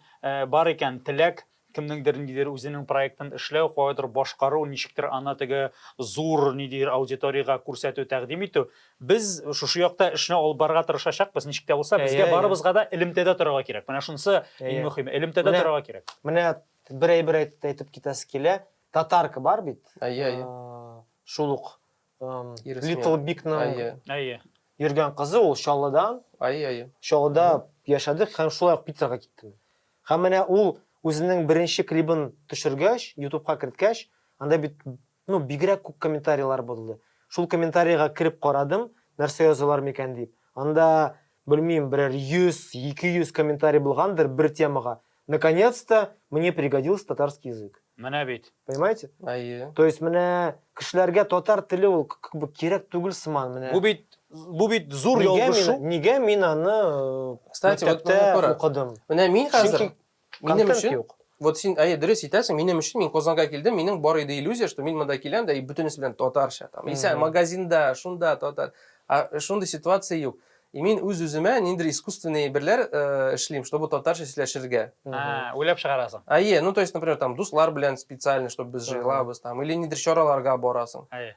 бар икән теләк, кемнеңдер ниндидер үзенең проектын эшләү, кайдыр башкару, ничектер аны теге зур ниндидер аудиториягә күрсәтү, тәкъдим итү, Без шушы якта эшне алып барырга тырышачакбыз, ничек тә булса, безгә барыбызга да элемтәдә торырга кирәк. Менә шунысы иң мөхиме, элемтәдә торырга кирәк. Менә бер әйбер әйтеп китәсе килә. Татарка бар бит. Әйе, әйе. Шул ук Little Big-ның йөргән кызы, ул Чаллыдан. Әйе, әйе. Чаллыда яшәдек һәм шулай ук Питерга киттем. Һәм менә ул үзенең беренче клибын төшергәч, ютубка керткәч, анда бит Ну, бигрәк күп комментарийлар булды. Шул комментарийга кереп карадым, нәрсә язалар микән дип. Анда, белмим, берәр 100, 200 комментарий булгандыр бер темага. Наконец-то мне пригодился татарский язык. Менә бит. Понимаете? Әйе. То есть менә кешеләргә татар теле ул как бы кирәк түгел сыман менә. Бу бит бу бит зур ялгышу. Нигә мин аны э, Кстати, вот укыдым? Менә мин хәзер Минем өчен юк. Вот син әйе дөрес итәсең, минем өчен мин Казанга килдем, минем бар иде иллюзия, что мин монда киләм дә и бөтенесе белән татарча там. Исә магазинда, шунда татар. А шундый ситуация юк. И мин үз үземә ниндер искусственный берләр э, эшлим, чтобы татарча сөйләшергә. А, уйлап чыгарасың. Әйе, ну то есть, например, там дуслар белән специально, чтобы без җыелабыз там или ниндер чараларга барасың. Әйе.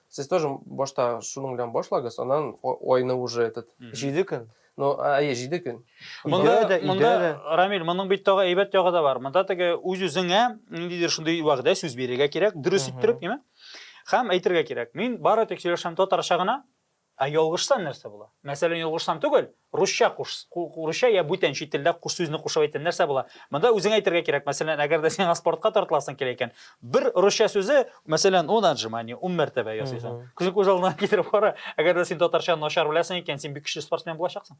Сез тоже башта шуның белән башлагыз, аннан айны уже этот. Җиде көн. Ну, әйе, җиде көн. Монда, да, монда, Рамил, моның бит тагы әйбәт ягы да бар. Монда теге үз-үзеңә ниндидер шундый вәгъдә сүз бирергә кирәк, дөрес иттереп, яме? Хәм әйтергә кирәк. Мин бары тик сөйләшәм татарча гына, ә ялгышсам нәрсә була? Мәсәлән, ялгышсам түгел, Русча куш, русча я бүтән чит телдә куш сүзне кушып әйтә, нәрсә була? Монда үзең әйтергә кирәк, мәсәлән, әгәр дә сиңа спортка тартыласың килә икән, бер русча сүзе, мәсәлән, он отжимание, ун мәртәбә ясыйсың. Күзең күз алдына китереп кара, әгәр дә син татарча начар беләсең икән, син бик көчле спортсмен булачаксың.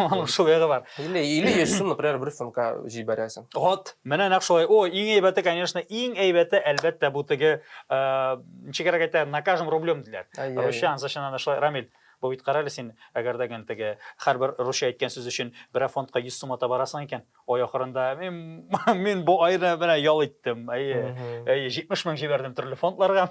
Аның шул ягы бар. Или или йөзсен, например, бер фонка җибәрәсең. Вот, менә нәкъ шулай. О, иң әйбәте, конечно, иң әйбәте, әлбәттә, бу теге, ничегрәк әйтә, на каждом рублем диләр. Русча, англичаннан да шулай, Рамил. Бу бит, карале син, әгәр дә гел теге, һәрбер русча әйткән сүз өчен берәр фондка йөз сум ата барасың икән, ай ахырында, мин, мин бу айны менә ял иттем, әйе, әйе, җитмеш мең җибәрдем төрле фондларга.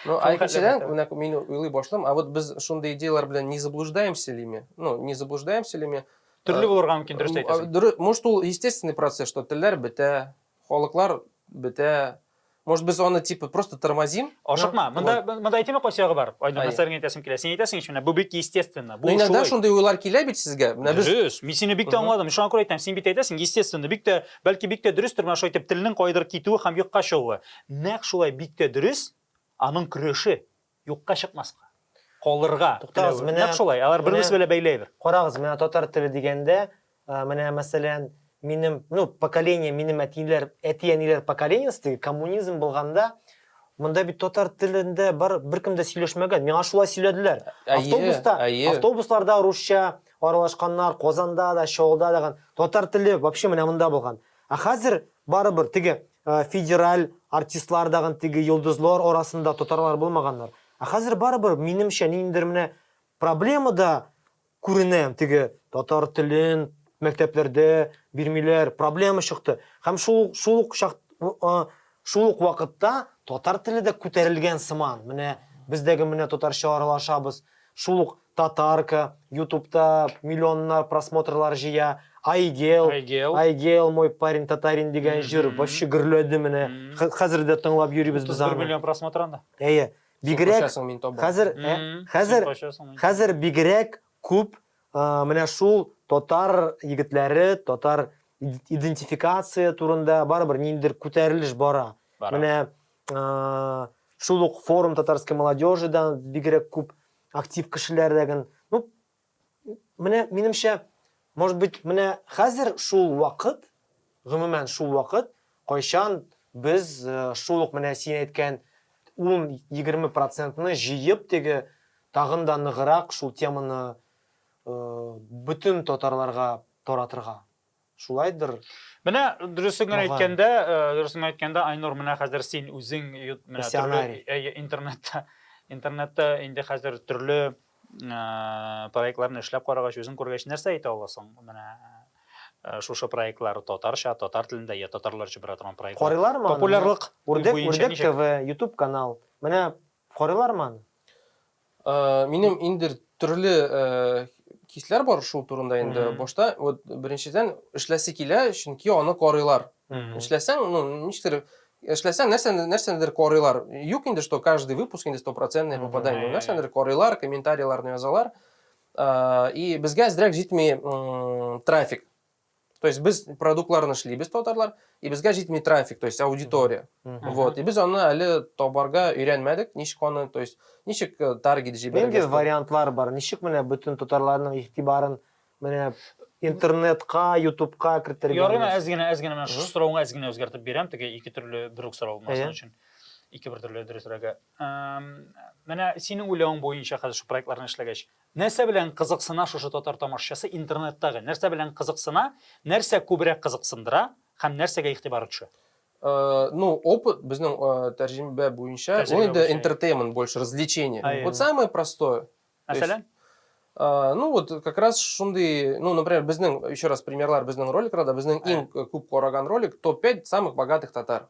Ну, а икенчедән, менә мин уйлый башлыйм, а вот без шундый идеяләр белән не заблуждаемся ли мы? Ну, не заблуждаемся ли мы? Төрле булырга мөмкин, дөрес әйтәсең. Может, ул естественный процесс, что телләр бетә, Халыклар бетә. Может без аны типа просто тормозим? Ашыкма. Монда монда әйтеме кайсы ягы бар? Айдан нәрсәләрне әйтәсем килә. Син әйтәсең ич менә бу бик естественно. Бу шулай. Иногда шундый уйлар килә бит сезгә. Менә без Дөрес. Мин сине бик тә аңладым. Шуңа күрә әйтәм, син бит әйтәсең естественно, бик тә бәлки бик тә дөрестер менә шулай итеп телнең кайдыр китүе һәм юкка чыгуы. Нәкъ шулай бик тә дөрес аның көрәше. Юкка чыкмаска, калырга теләве. Менә, Нәкъ шулай, алар бер-берсе белән бәйле әйбер. Карагыз, менә татар теле дигәндә, менә, мәсәлән, минем, ну, поколение, минем әтиләр, әти-әниләр поколениесе теге коммунизм булганда, монда бит татар телендә бар, беркем дә сөйләшмәгән. Миңа шулай сөйләделәр. Автобуста, автобусларда русча аралашканнар, Казанда да, Чаллыда да. Татар теле вообще менә монда булган. Ә хәзер барыбер теге Федераль артистлар дагын теге йолдызлар арасында татарлар булмаганнар. Ә хәзер барыбер минемчә ниндидер менә проблема да күренә, теге татар телен мәктәпләрдә бирмиләр, проблема чыкты. Һәм шул шул ук чак шул ук вакытта татар теле дә күтәрелгән сыман. Менә без дәге менә татарча аралашабыз. Шул ук Татарка, ютубта миллионнар просмотрлар җыя, Айгел, Айгел. Айгел мой парень татарин дигән җыр вообще гөрләде менә. Хә- Хәзер дә тыңлап йөрибез без 31 аны. миллион просмотр анда. Әйе. Бигрәк Качасың мин табам. хәзер ә, Мгм. хәзер Син качасың, мин- хәзер бигрәк күп а, менә шул татар егетләре, татар иде- идентификация турында барыбер ниндидер күтәрелеш бара. Бара. Менә шул ук форум татарской молодежи да бигрәк күп актив кешеләр дә ген ну менә минемчә может быть менә хәзер шул вакыт гомумән шул вакыт кайчан без э, шул ук менә син әйткән ун егерме процентны җыеп теге тагын да ныграк шул теманы э, бөтен татарларга таратырга Шулайдыр. Менә дөресен генә әйткәндә, э, дөресен әйткәндә, Айнур, менә хәзер син үзең менә төрле интернетта интернетта инде хәзер төрле э, проектларны эшләп карагач, үзең күргәч, нәрсә әйтә аласың? Менә э, шушы проектлар татарча, татар телендә я татарларча бара торган проектлар. Карыйлармы? Популярлык. Үрдәк, үрдәк ТВ, YouTube канал. Менә карыйлармы? Э, минем инде төрле э, хисләр бар шул турында инде башта вот беренчедән эшләсе килә чөнки аны карыйлар эшләсәң ну ничектер эшләсәң нәрсә нәрсәдер карыйлар юк инде что каждый выпуск инде стопроцентное попадание нәрсәдер карыйлар комментарийларны язалар э, и безгә әзрәк җитми трафик То есть без продуктларын эшлибез татарлар, и безгә җитми трафик, то есть аудитория. Вот, и без аны әле табарга өйрәнмәдек, ничек аны, то есть ничек э, таргет җибәрергә. Нинди вариантлар бар? Ничек менә бөтен татарларның игътибарын менә интернетка, ютубка кертергә? Ярына әз генә, әз генә менә шушы соравыңа әз генә үзгәртеп бирәм, теге ике төрле бер үк сорау булмасын өчен. Ике бер төрле дөресрәге. Менә синең уйлавың буенча хәзер шу проектларны эшләгәч, Нәрсә белән кызыксына шушы татар тамашачысы интернеттагы? Нәрсә белән кызыксына, нәрсә күбрәк кызыксындыра һәм нәрсәгә игътибары төшә? Ну, опыт безнең тәрҗемә буенча, ул инде entertainment больше, развлечение. Вот самое простое. Мәсәлән? Ну, вот как раз шундый, ну, например, безнең, еще раз, примерлар безнең роликларда, безнең иң күп караган ролик, топ-5 самых богатых татар.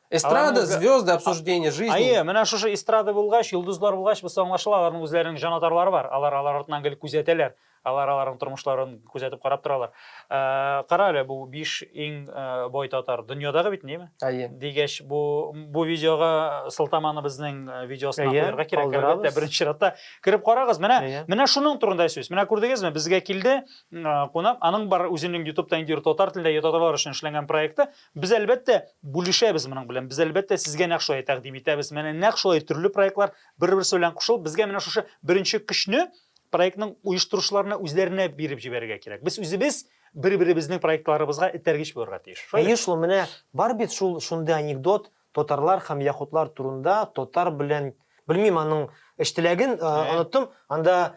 Эстрада, звезды, обсуждение жизни. Ае, менә шушы эстрада булгач, йолдызлар булгач, бусы аңлашыла, аларның үзләренең җанатарлары бар. Алар алар артынан гел күзәтәләр. Алар аларның тормышларын күзәтеп карап торалар. Э, кара әле, бу 5 иң э, бай татар. Дөньядагы бит, неме? Ае. Дигәч, бу бу видеога сылтаманы безнең э, видеосына куярга кирәк. Әлбәттә, беренче чиратта кирип карагыз. Менә менә шуның турында сүз. Менә күрдегезме, безгә килде кунак, аның бар үзенең YouTube-та инде татар телендә татарлар өчен эшләнгән проекты. Без, әлбәттә, бүлешәбез моның белән. Без, әлбәттә, сезгә нәкъ шулай тәкъдим итәбез. Менә нәкъ шулай төрле проектлар бер-берсе белән кушылып, безгә менә шушы беренче көчне проектның оештыручыларына үзләренә биреп җибәрергә кирәк. Без үзебез бер-беребезнең проектларыбызга этәргеч булырга тиеш. Әйе шул, менә бар бит шул шундый анекдот, татарлар һәм яхудлар турында, татар белән, белмим аның эш теләген, оныттым, анда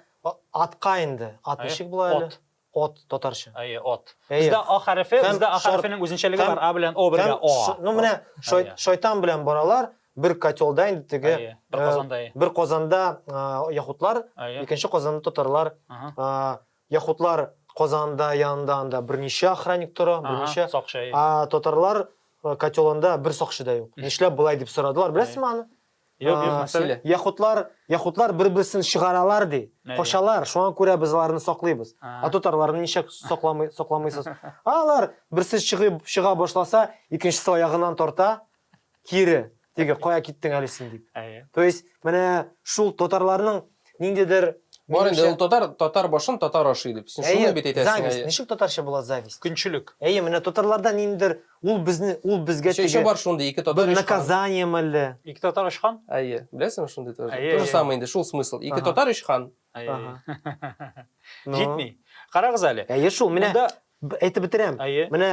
атка инде, ат ничек була әле? От, татарча. Әйе, от. Бездә а хәрефе, бездә а хәрефенең үзенчәлеге бар, а белән о бергә о. Ну менә шайтан белән баралар, бер котелда инде теге. Бер э, казанда. Бер казанда э, яхутлар, икенче казанда татарлар. Э, яхутлар казанда янында анда берничә охранник тора, берничә. А татарлар котелында бер сакчы да юк. Нишләп болай дип сорадылар, беләсезме аны? Юк, юк, нәрсә ди? Яхудлар, яхудлар бер-берсен чыгаралар ди. Качалар, шуңа күрә без аларны саклыйбыз. А татарларны ничек сакламый, сакламыйсыз? Алар берсе чыгып чыга башласа, икенчесе аягыннан тарта, кире. Теге кая киттең әле син дип. То есть, менә шул татарларның ниндидер Бар инде ул татар татар башын татар ашый дип. Син шуны бит әйтәсең. Зависть. Ничек татарча була зависть? Көнчелек. Әйе, менә татарларда ниндидер ул безне ул безгә теге. Еще бар шундый ике татар. Наказание мәлле. Ике татар очкан? Әйе. Беләсеңме шундый тоже? То же самое инде, шул смысл. Ике татар очкан. Җитми. Карагыз әле. Әйе шул, менә әйтеп бетерәм. Менә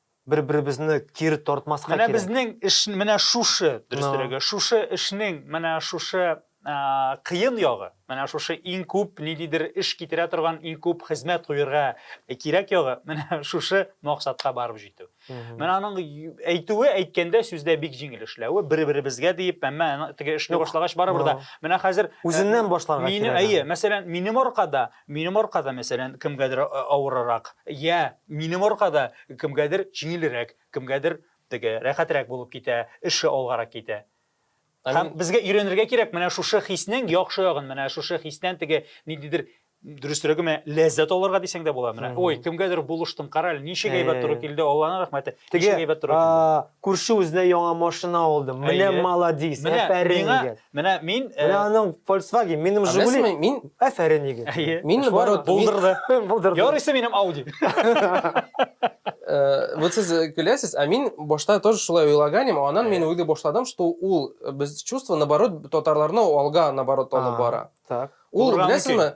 Бер-беребезне кире тартмаска кирәк. Менә безнең эш менә шушы, дөресрәге, шушы эшнең менә шушы кыен ягы, менә шушы иң күп ниндидер эш китерә торган, иң күп хезмәт куерга кирәк ягы, менә шушы максатка барып җитү. Менә аның әйтүе, әйткәндә, сүздә бик җиңел эшләве, бер-беребезгә диеп, әмма теге эшне башлагач барыбер дә, менә хәзер үзеннән башларга кирәк. Минем, әйе, мәсәлән, минем аркада Минем аркада, мәсәлән, кемгәдер авырырак, йә минем аркада кемгәдер җиңелрәк, кемгәдер теге рәхәтрәк булып китә, эше алгарак китә. Һәм безгә өйрәнергә кирәк менә шушы хиснең яхшы ягын, менә шушы хистән теге ниндидер дөресрәге менә ләззәт алырга дисәң дә була менә. Ой, кемгәдер булыштым, карале, ничек әйбәт туры килде, Алланың рәхмәте. Теге әйбәт туры килде. Күрше үзенә яңа машина алды. Менә маладис, әфәрин дигән. Менә мин э, Менә аның Volkswagen, минем Жигули. Әмәсме, мин Афәрин егет. Әйе. мин наоборот, мин- Булдырды. Булдырды. Ярыйсы минем Audi. Э, вот сез э, көләсез, а мин башта тоже шулай уйлаганым, анан мин уйлый башладым, что ул э, без чувство наоборот татарларны алга наоборот алып А. бара. Так. Ул Урам беләсезме,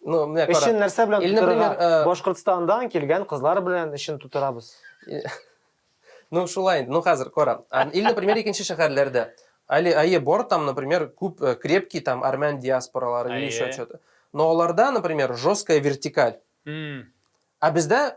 Ну, менә кара. Эшен нәрсә белән Или, тутырырга? например, э, Башкортстандан килгән кызлар белән эшен тутырабыз. Ну, шулай инде. Ну, хәзер кара. А, Или, например, икенче шәһәрләрдә. Али, әйе, бар там, например, күп э, крепкий там армян диаспоралары или Әйе. еще что-то. Но аларда, например, жесткая вертикаль. М, А бездә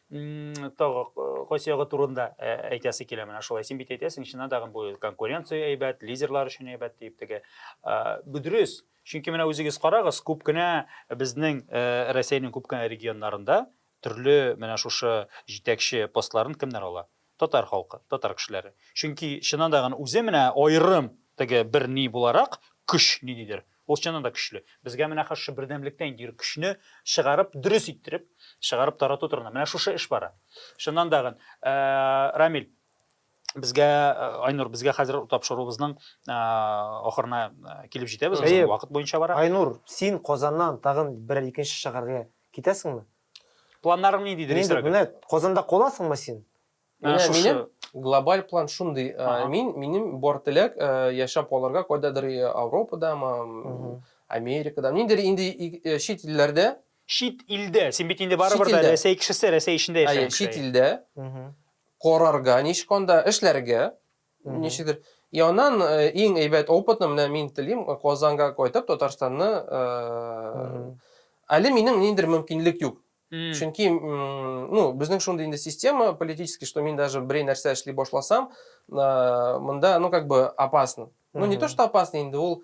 Тагы кайсыягы турында әйтәсе килә менә шулай. Син бит әйтәсең, чыннан да бу конкуренция әйбәт, лидерлар өчен әйбәт дип теге. Бу дөрес. Чөнки менә үзегез карагыз, күп кенә безнең Россиянең күп кенә регионнарында төрле менә шушы җитәкче постларын кемнәр ала? Татар халкы, татар кешеләре. Чөнки чыннан да гын үзе менә аерым теге бер ни буларак, көч ниндидер, ул чыннан да көчле. Безгә менә хәзер шушы бердәмлектә инде юрик, көчне чыгарып, дөрес иттереп, чыгарып тарату турында. Менә шушы эш бара. Чыннан да гын, Рамил, безгә, Айнур, безгә хәзер тапшыруыбызның ахырына килеп җитәбез, безнең вакыт буенча бара. Айнур, син Казаннан тагын берәр икенче шәһәргә китәсеңме? Планнарың нидидер Нинди, исерек? менә Казанда каласыңмы син? Ә, Менә шушы. минем глобаль план шундый. Ә, Ага. Мин минем бар теләк ә, яшәп калырга кайдадыр э, Ауропадамы, м, Мгм. Америкада, ниндидер инде и- э, чит илләрдә, Чит илдә. Син бит инде барыбер Чит дә илдә. Рәсәй кешесе, Рәсәй эчендә әйе, яшәгән чит кеше. илдә Мгм. карарга, ничек анда эшләргә, Ничектер янан иң әйбәт опытны менә мин телим Казанга кайтып Татарстанны әле минем ниндидер мөмкинлек юк. Чөнки ну безнең шундый инде система политический, что мин даже берәй нәрсә эшли башласам, монда ну как бы опасно. Ну не то что опасно инде ул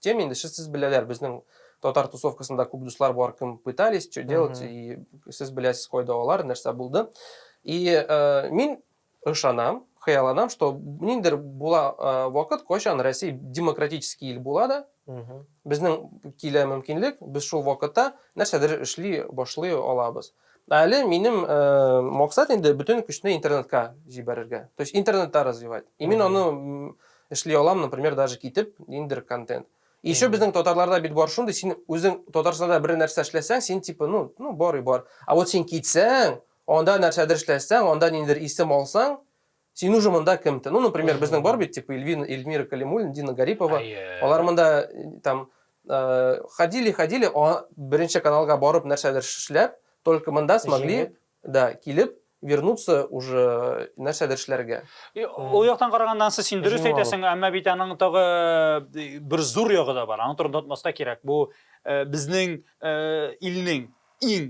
Тем инде сез беләләр, безнең татар тусовкасында күп дуслар бар, кем пытались, что делать, и сез беләсез кайда алар, нәрсә булды. И э, мин ышанам, хыяланам, что ниндер була э, вакыт, кайчан Россия демократический ил була да, безнең килә мөмкинлек, без шул вакытта нәрсәдер эшли башлый алабыз. Әле минем э, максат инде бөтен көчне интернетка җибәрергә. То есть интернетта развивать. И мин аны Эшли алам, например, даже китеп, ниндидер контент. И еще безнең татарларда бит бар шундый, син үзең Татарстанда бер нәрсә эшләсәң, син типа, ну, ну бар и бар. А вот син китсәң, анда нәрсәдер эшләсәң, анда ниндидер исем алсаң, син уже монда кем ты? Ну, например, безнең бар бит, типа Эльвина, Эльмира Калимуллина, Дина Гарипова. Алар монда там ходили, ходили, беренче каналга барып нәрсәдер эшләп, только монда смогли Да килеп вернуться уже нәрсәдер эшләргә. Ул яктан караганда ансы син дөрес әйтәсең, әмма бит аның тагы бер зур ягы да бар. Аның турында онытмаска кирәк. Бу безнең илнең иң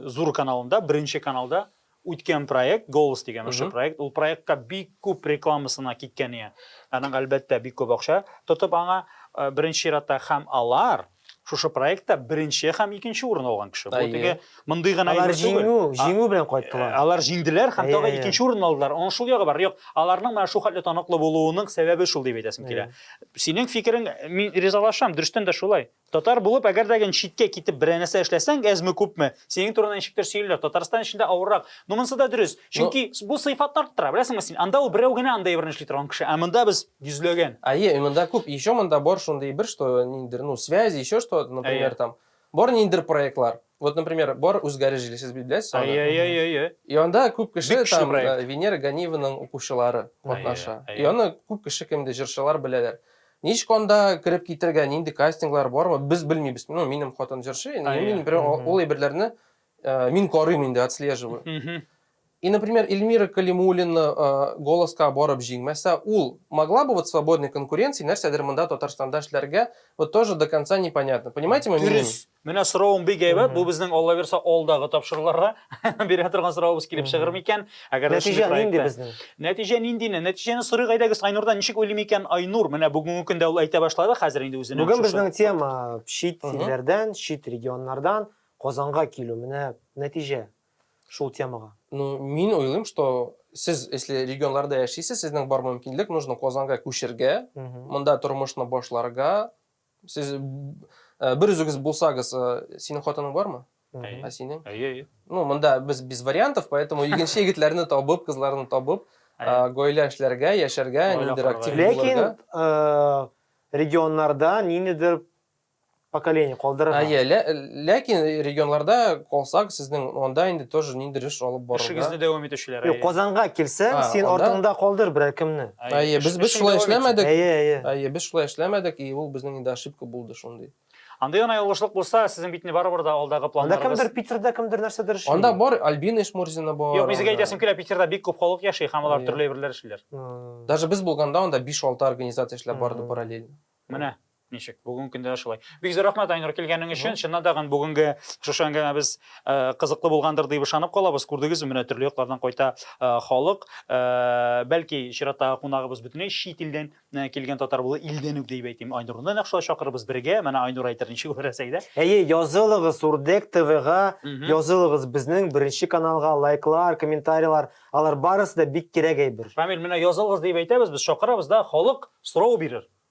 зур каналында, беренче каналда үткән проект, Голос дигән ошо проект, ул проектка бик күп рекламасына киткән ия. Аның әлбәттә бик күп акча тотып аңа беренче чиратта һәм алар шушы проектта беренче һәм икенче урын алган кеше. Бу теге мондый гына Алар җиңү, җиңү белән кайттылар. Э, алар җиңделәр һәм тагы икенче урын алдылар. Аның шул ягы бар. Юк, аларның менә шул хәтле таныклы булуының сәбәбе шул дип әйтәсем килә. Синең фикерең мин ризалашам, дөрестән дә шулай. Татар булып, әгәр дә читкә китеп берәр нәрсә эшләсәң, әзме күпме, синең турында ничектер сөйлиләр. Татарстан эчендә авыррак. Ну монысы да дөрес. Чөнки бу сыйфатны арттыра. Беләсеңме син, анда ул берәү генә анда әйберне эшли торган кеше, ә монда без Йөзләгән. Әйе, монда күп. Еще монда бар шундый бер, что ниндидер, ну, связи, еще что, например, там, бар ниндидер проектлар. Вот, например, бар үзгәреш җиле, сез беләсез аны? Әйе, әйе, әйе, әйе. И анда күп кеше там Венера Ганиеваның укучылары катнаша. И аны күп кеше кемде җырчылар беләләр. Ничек анда кереп китергә, нинди кастинглар бармы, без белмибез. Ну, минем хатын җырчы, мин бер ул әйберләрне мин карыйм инде, отслеживаю. И например Эльмира Калимуллина Голоска барып җиңмәсә, ул могла бы вот свободной конкуренции нәрсәдер монда Татарстанда эшләргә, вот тоже до конца не понятно. Понимаете мой минимум? Дөрес. Менә соравың бик әйбәт. Бу безнең Алла бирса алдагы тапшыруларга бирә торган соравыбыз килеп чыгыр микән? Әгәр дә шундый проектта. Нәтиҗә нинди безнең? Нәтиҗәне сорыйк әйдәгез Айнурдан. Ничек уйлый микән Айнур? Менә бүгенге көндә ул әйтә башлады хәзер инде үзенең. Бүген безнең тема чит илләрдән, чит регионнардан Казанга килү. Менә нәтиҗә. шул темага? Ну, мин уйлыйм, что сез, если регионларда яшисез, сезнең бар мөмкинлек, нужно Казанга күчергә, монда тормышны башларга. Сез э, бер үзегез булсагыз, э, синең хатының бармы? Ә синең? Әйе, әйе. Ну, монда без без вариантов, поэтому егенче егетләрне табып, кызларны табып, э, гаилә эшләргә, яшәргә, ниндидер актив булырга. Ләкин регионнарда ниндидер поколение калдырырга. Әйе, лә, ләкин регионларда калсак, сезнең анда инде тоже ниндидер эш алып барырга. Эшегезне дәвам итүчеләр. Юк, Казанга килсәң, а, син анда... артыңда калдыр берәр кемне. Әйе, без без шулай эшләмәдек. Әйе, әйе. Әйе, без шулай эшләмәдек, и ул безнең инде ошибка булды шундый. Анда гына ялгышлык булса, сезнең бит не барыбер да алдагы планнарыгыз. Анда кемдер Питерда кемдер нәрсәдер эшли. Анда бар Альбина Ишмурзина бар. Юк, безгә әйтәсем килә, Питерда бик күп халык яши, һәм алар төрле әйберләр эшлиләр. Даже без булганда анда 5-6 организация эшләп барды параллельно. Менә. Ничек? Бүгенге көндә дә шулай. Бик зур рәхмәт, Айнур, килгәнең өчен. Чыннан да гын бүгенге шушы әңгәмәбез э, кызыклы булгандыр дип ышанып калабыз. Күрдегезме, менә төрле яклардан кайта э, халык. Э, Бәлки чираттагы кунагыбыз бөтенләй чит илдән э, килгән татар булыр, илдән үк дип әйтим. Айнурны да нәкъ шулай чакырырбыз бергә. Менә Айнур әйтер ничек булыр Рәсәйдә. Әйе, язылыгыз Урдек ТВга, Мгм. язылыгыз безнең беренче каналга, лайклар, комментарийлар, алар барысы да бик кирәк әйбер. Рамил, менә язылыгыз дип әйтәбез, без чакырабыз да, халык сорау бирер.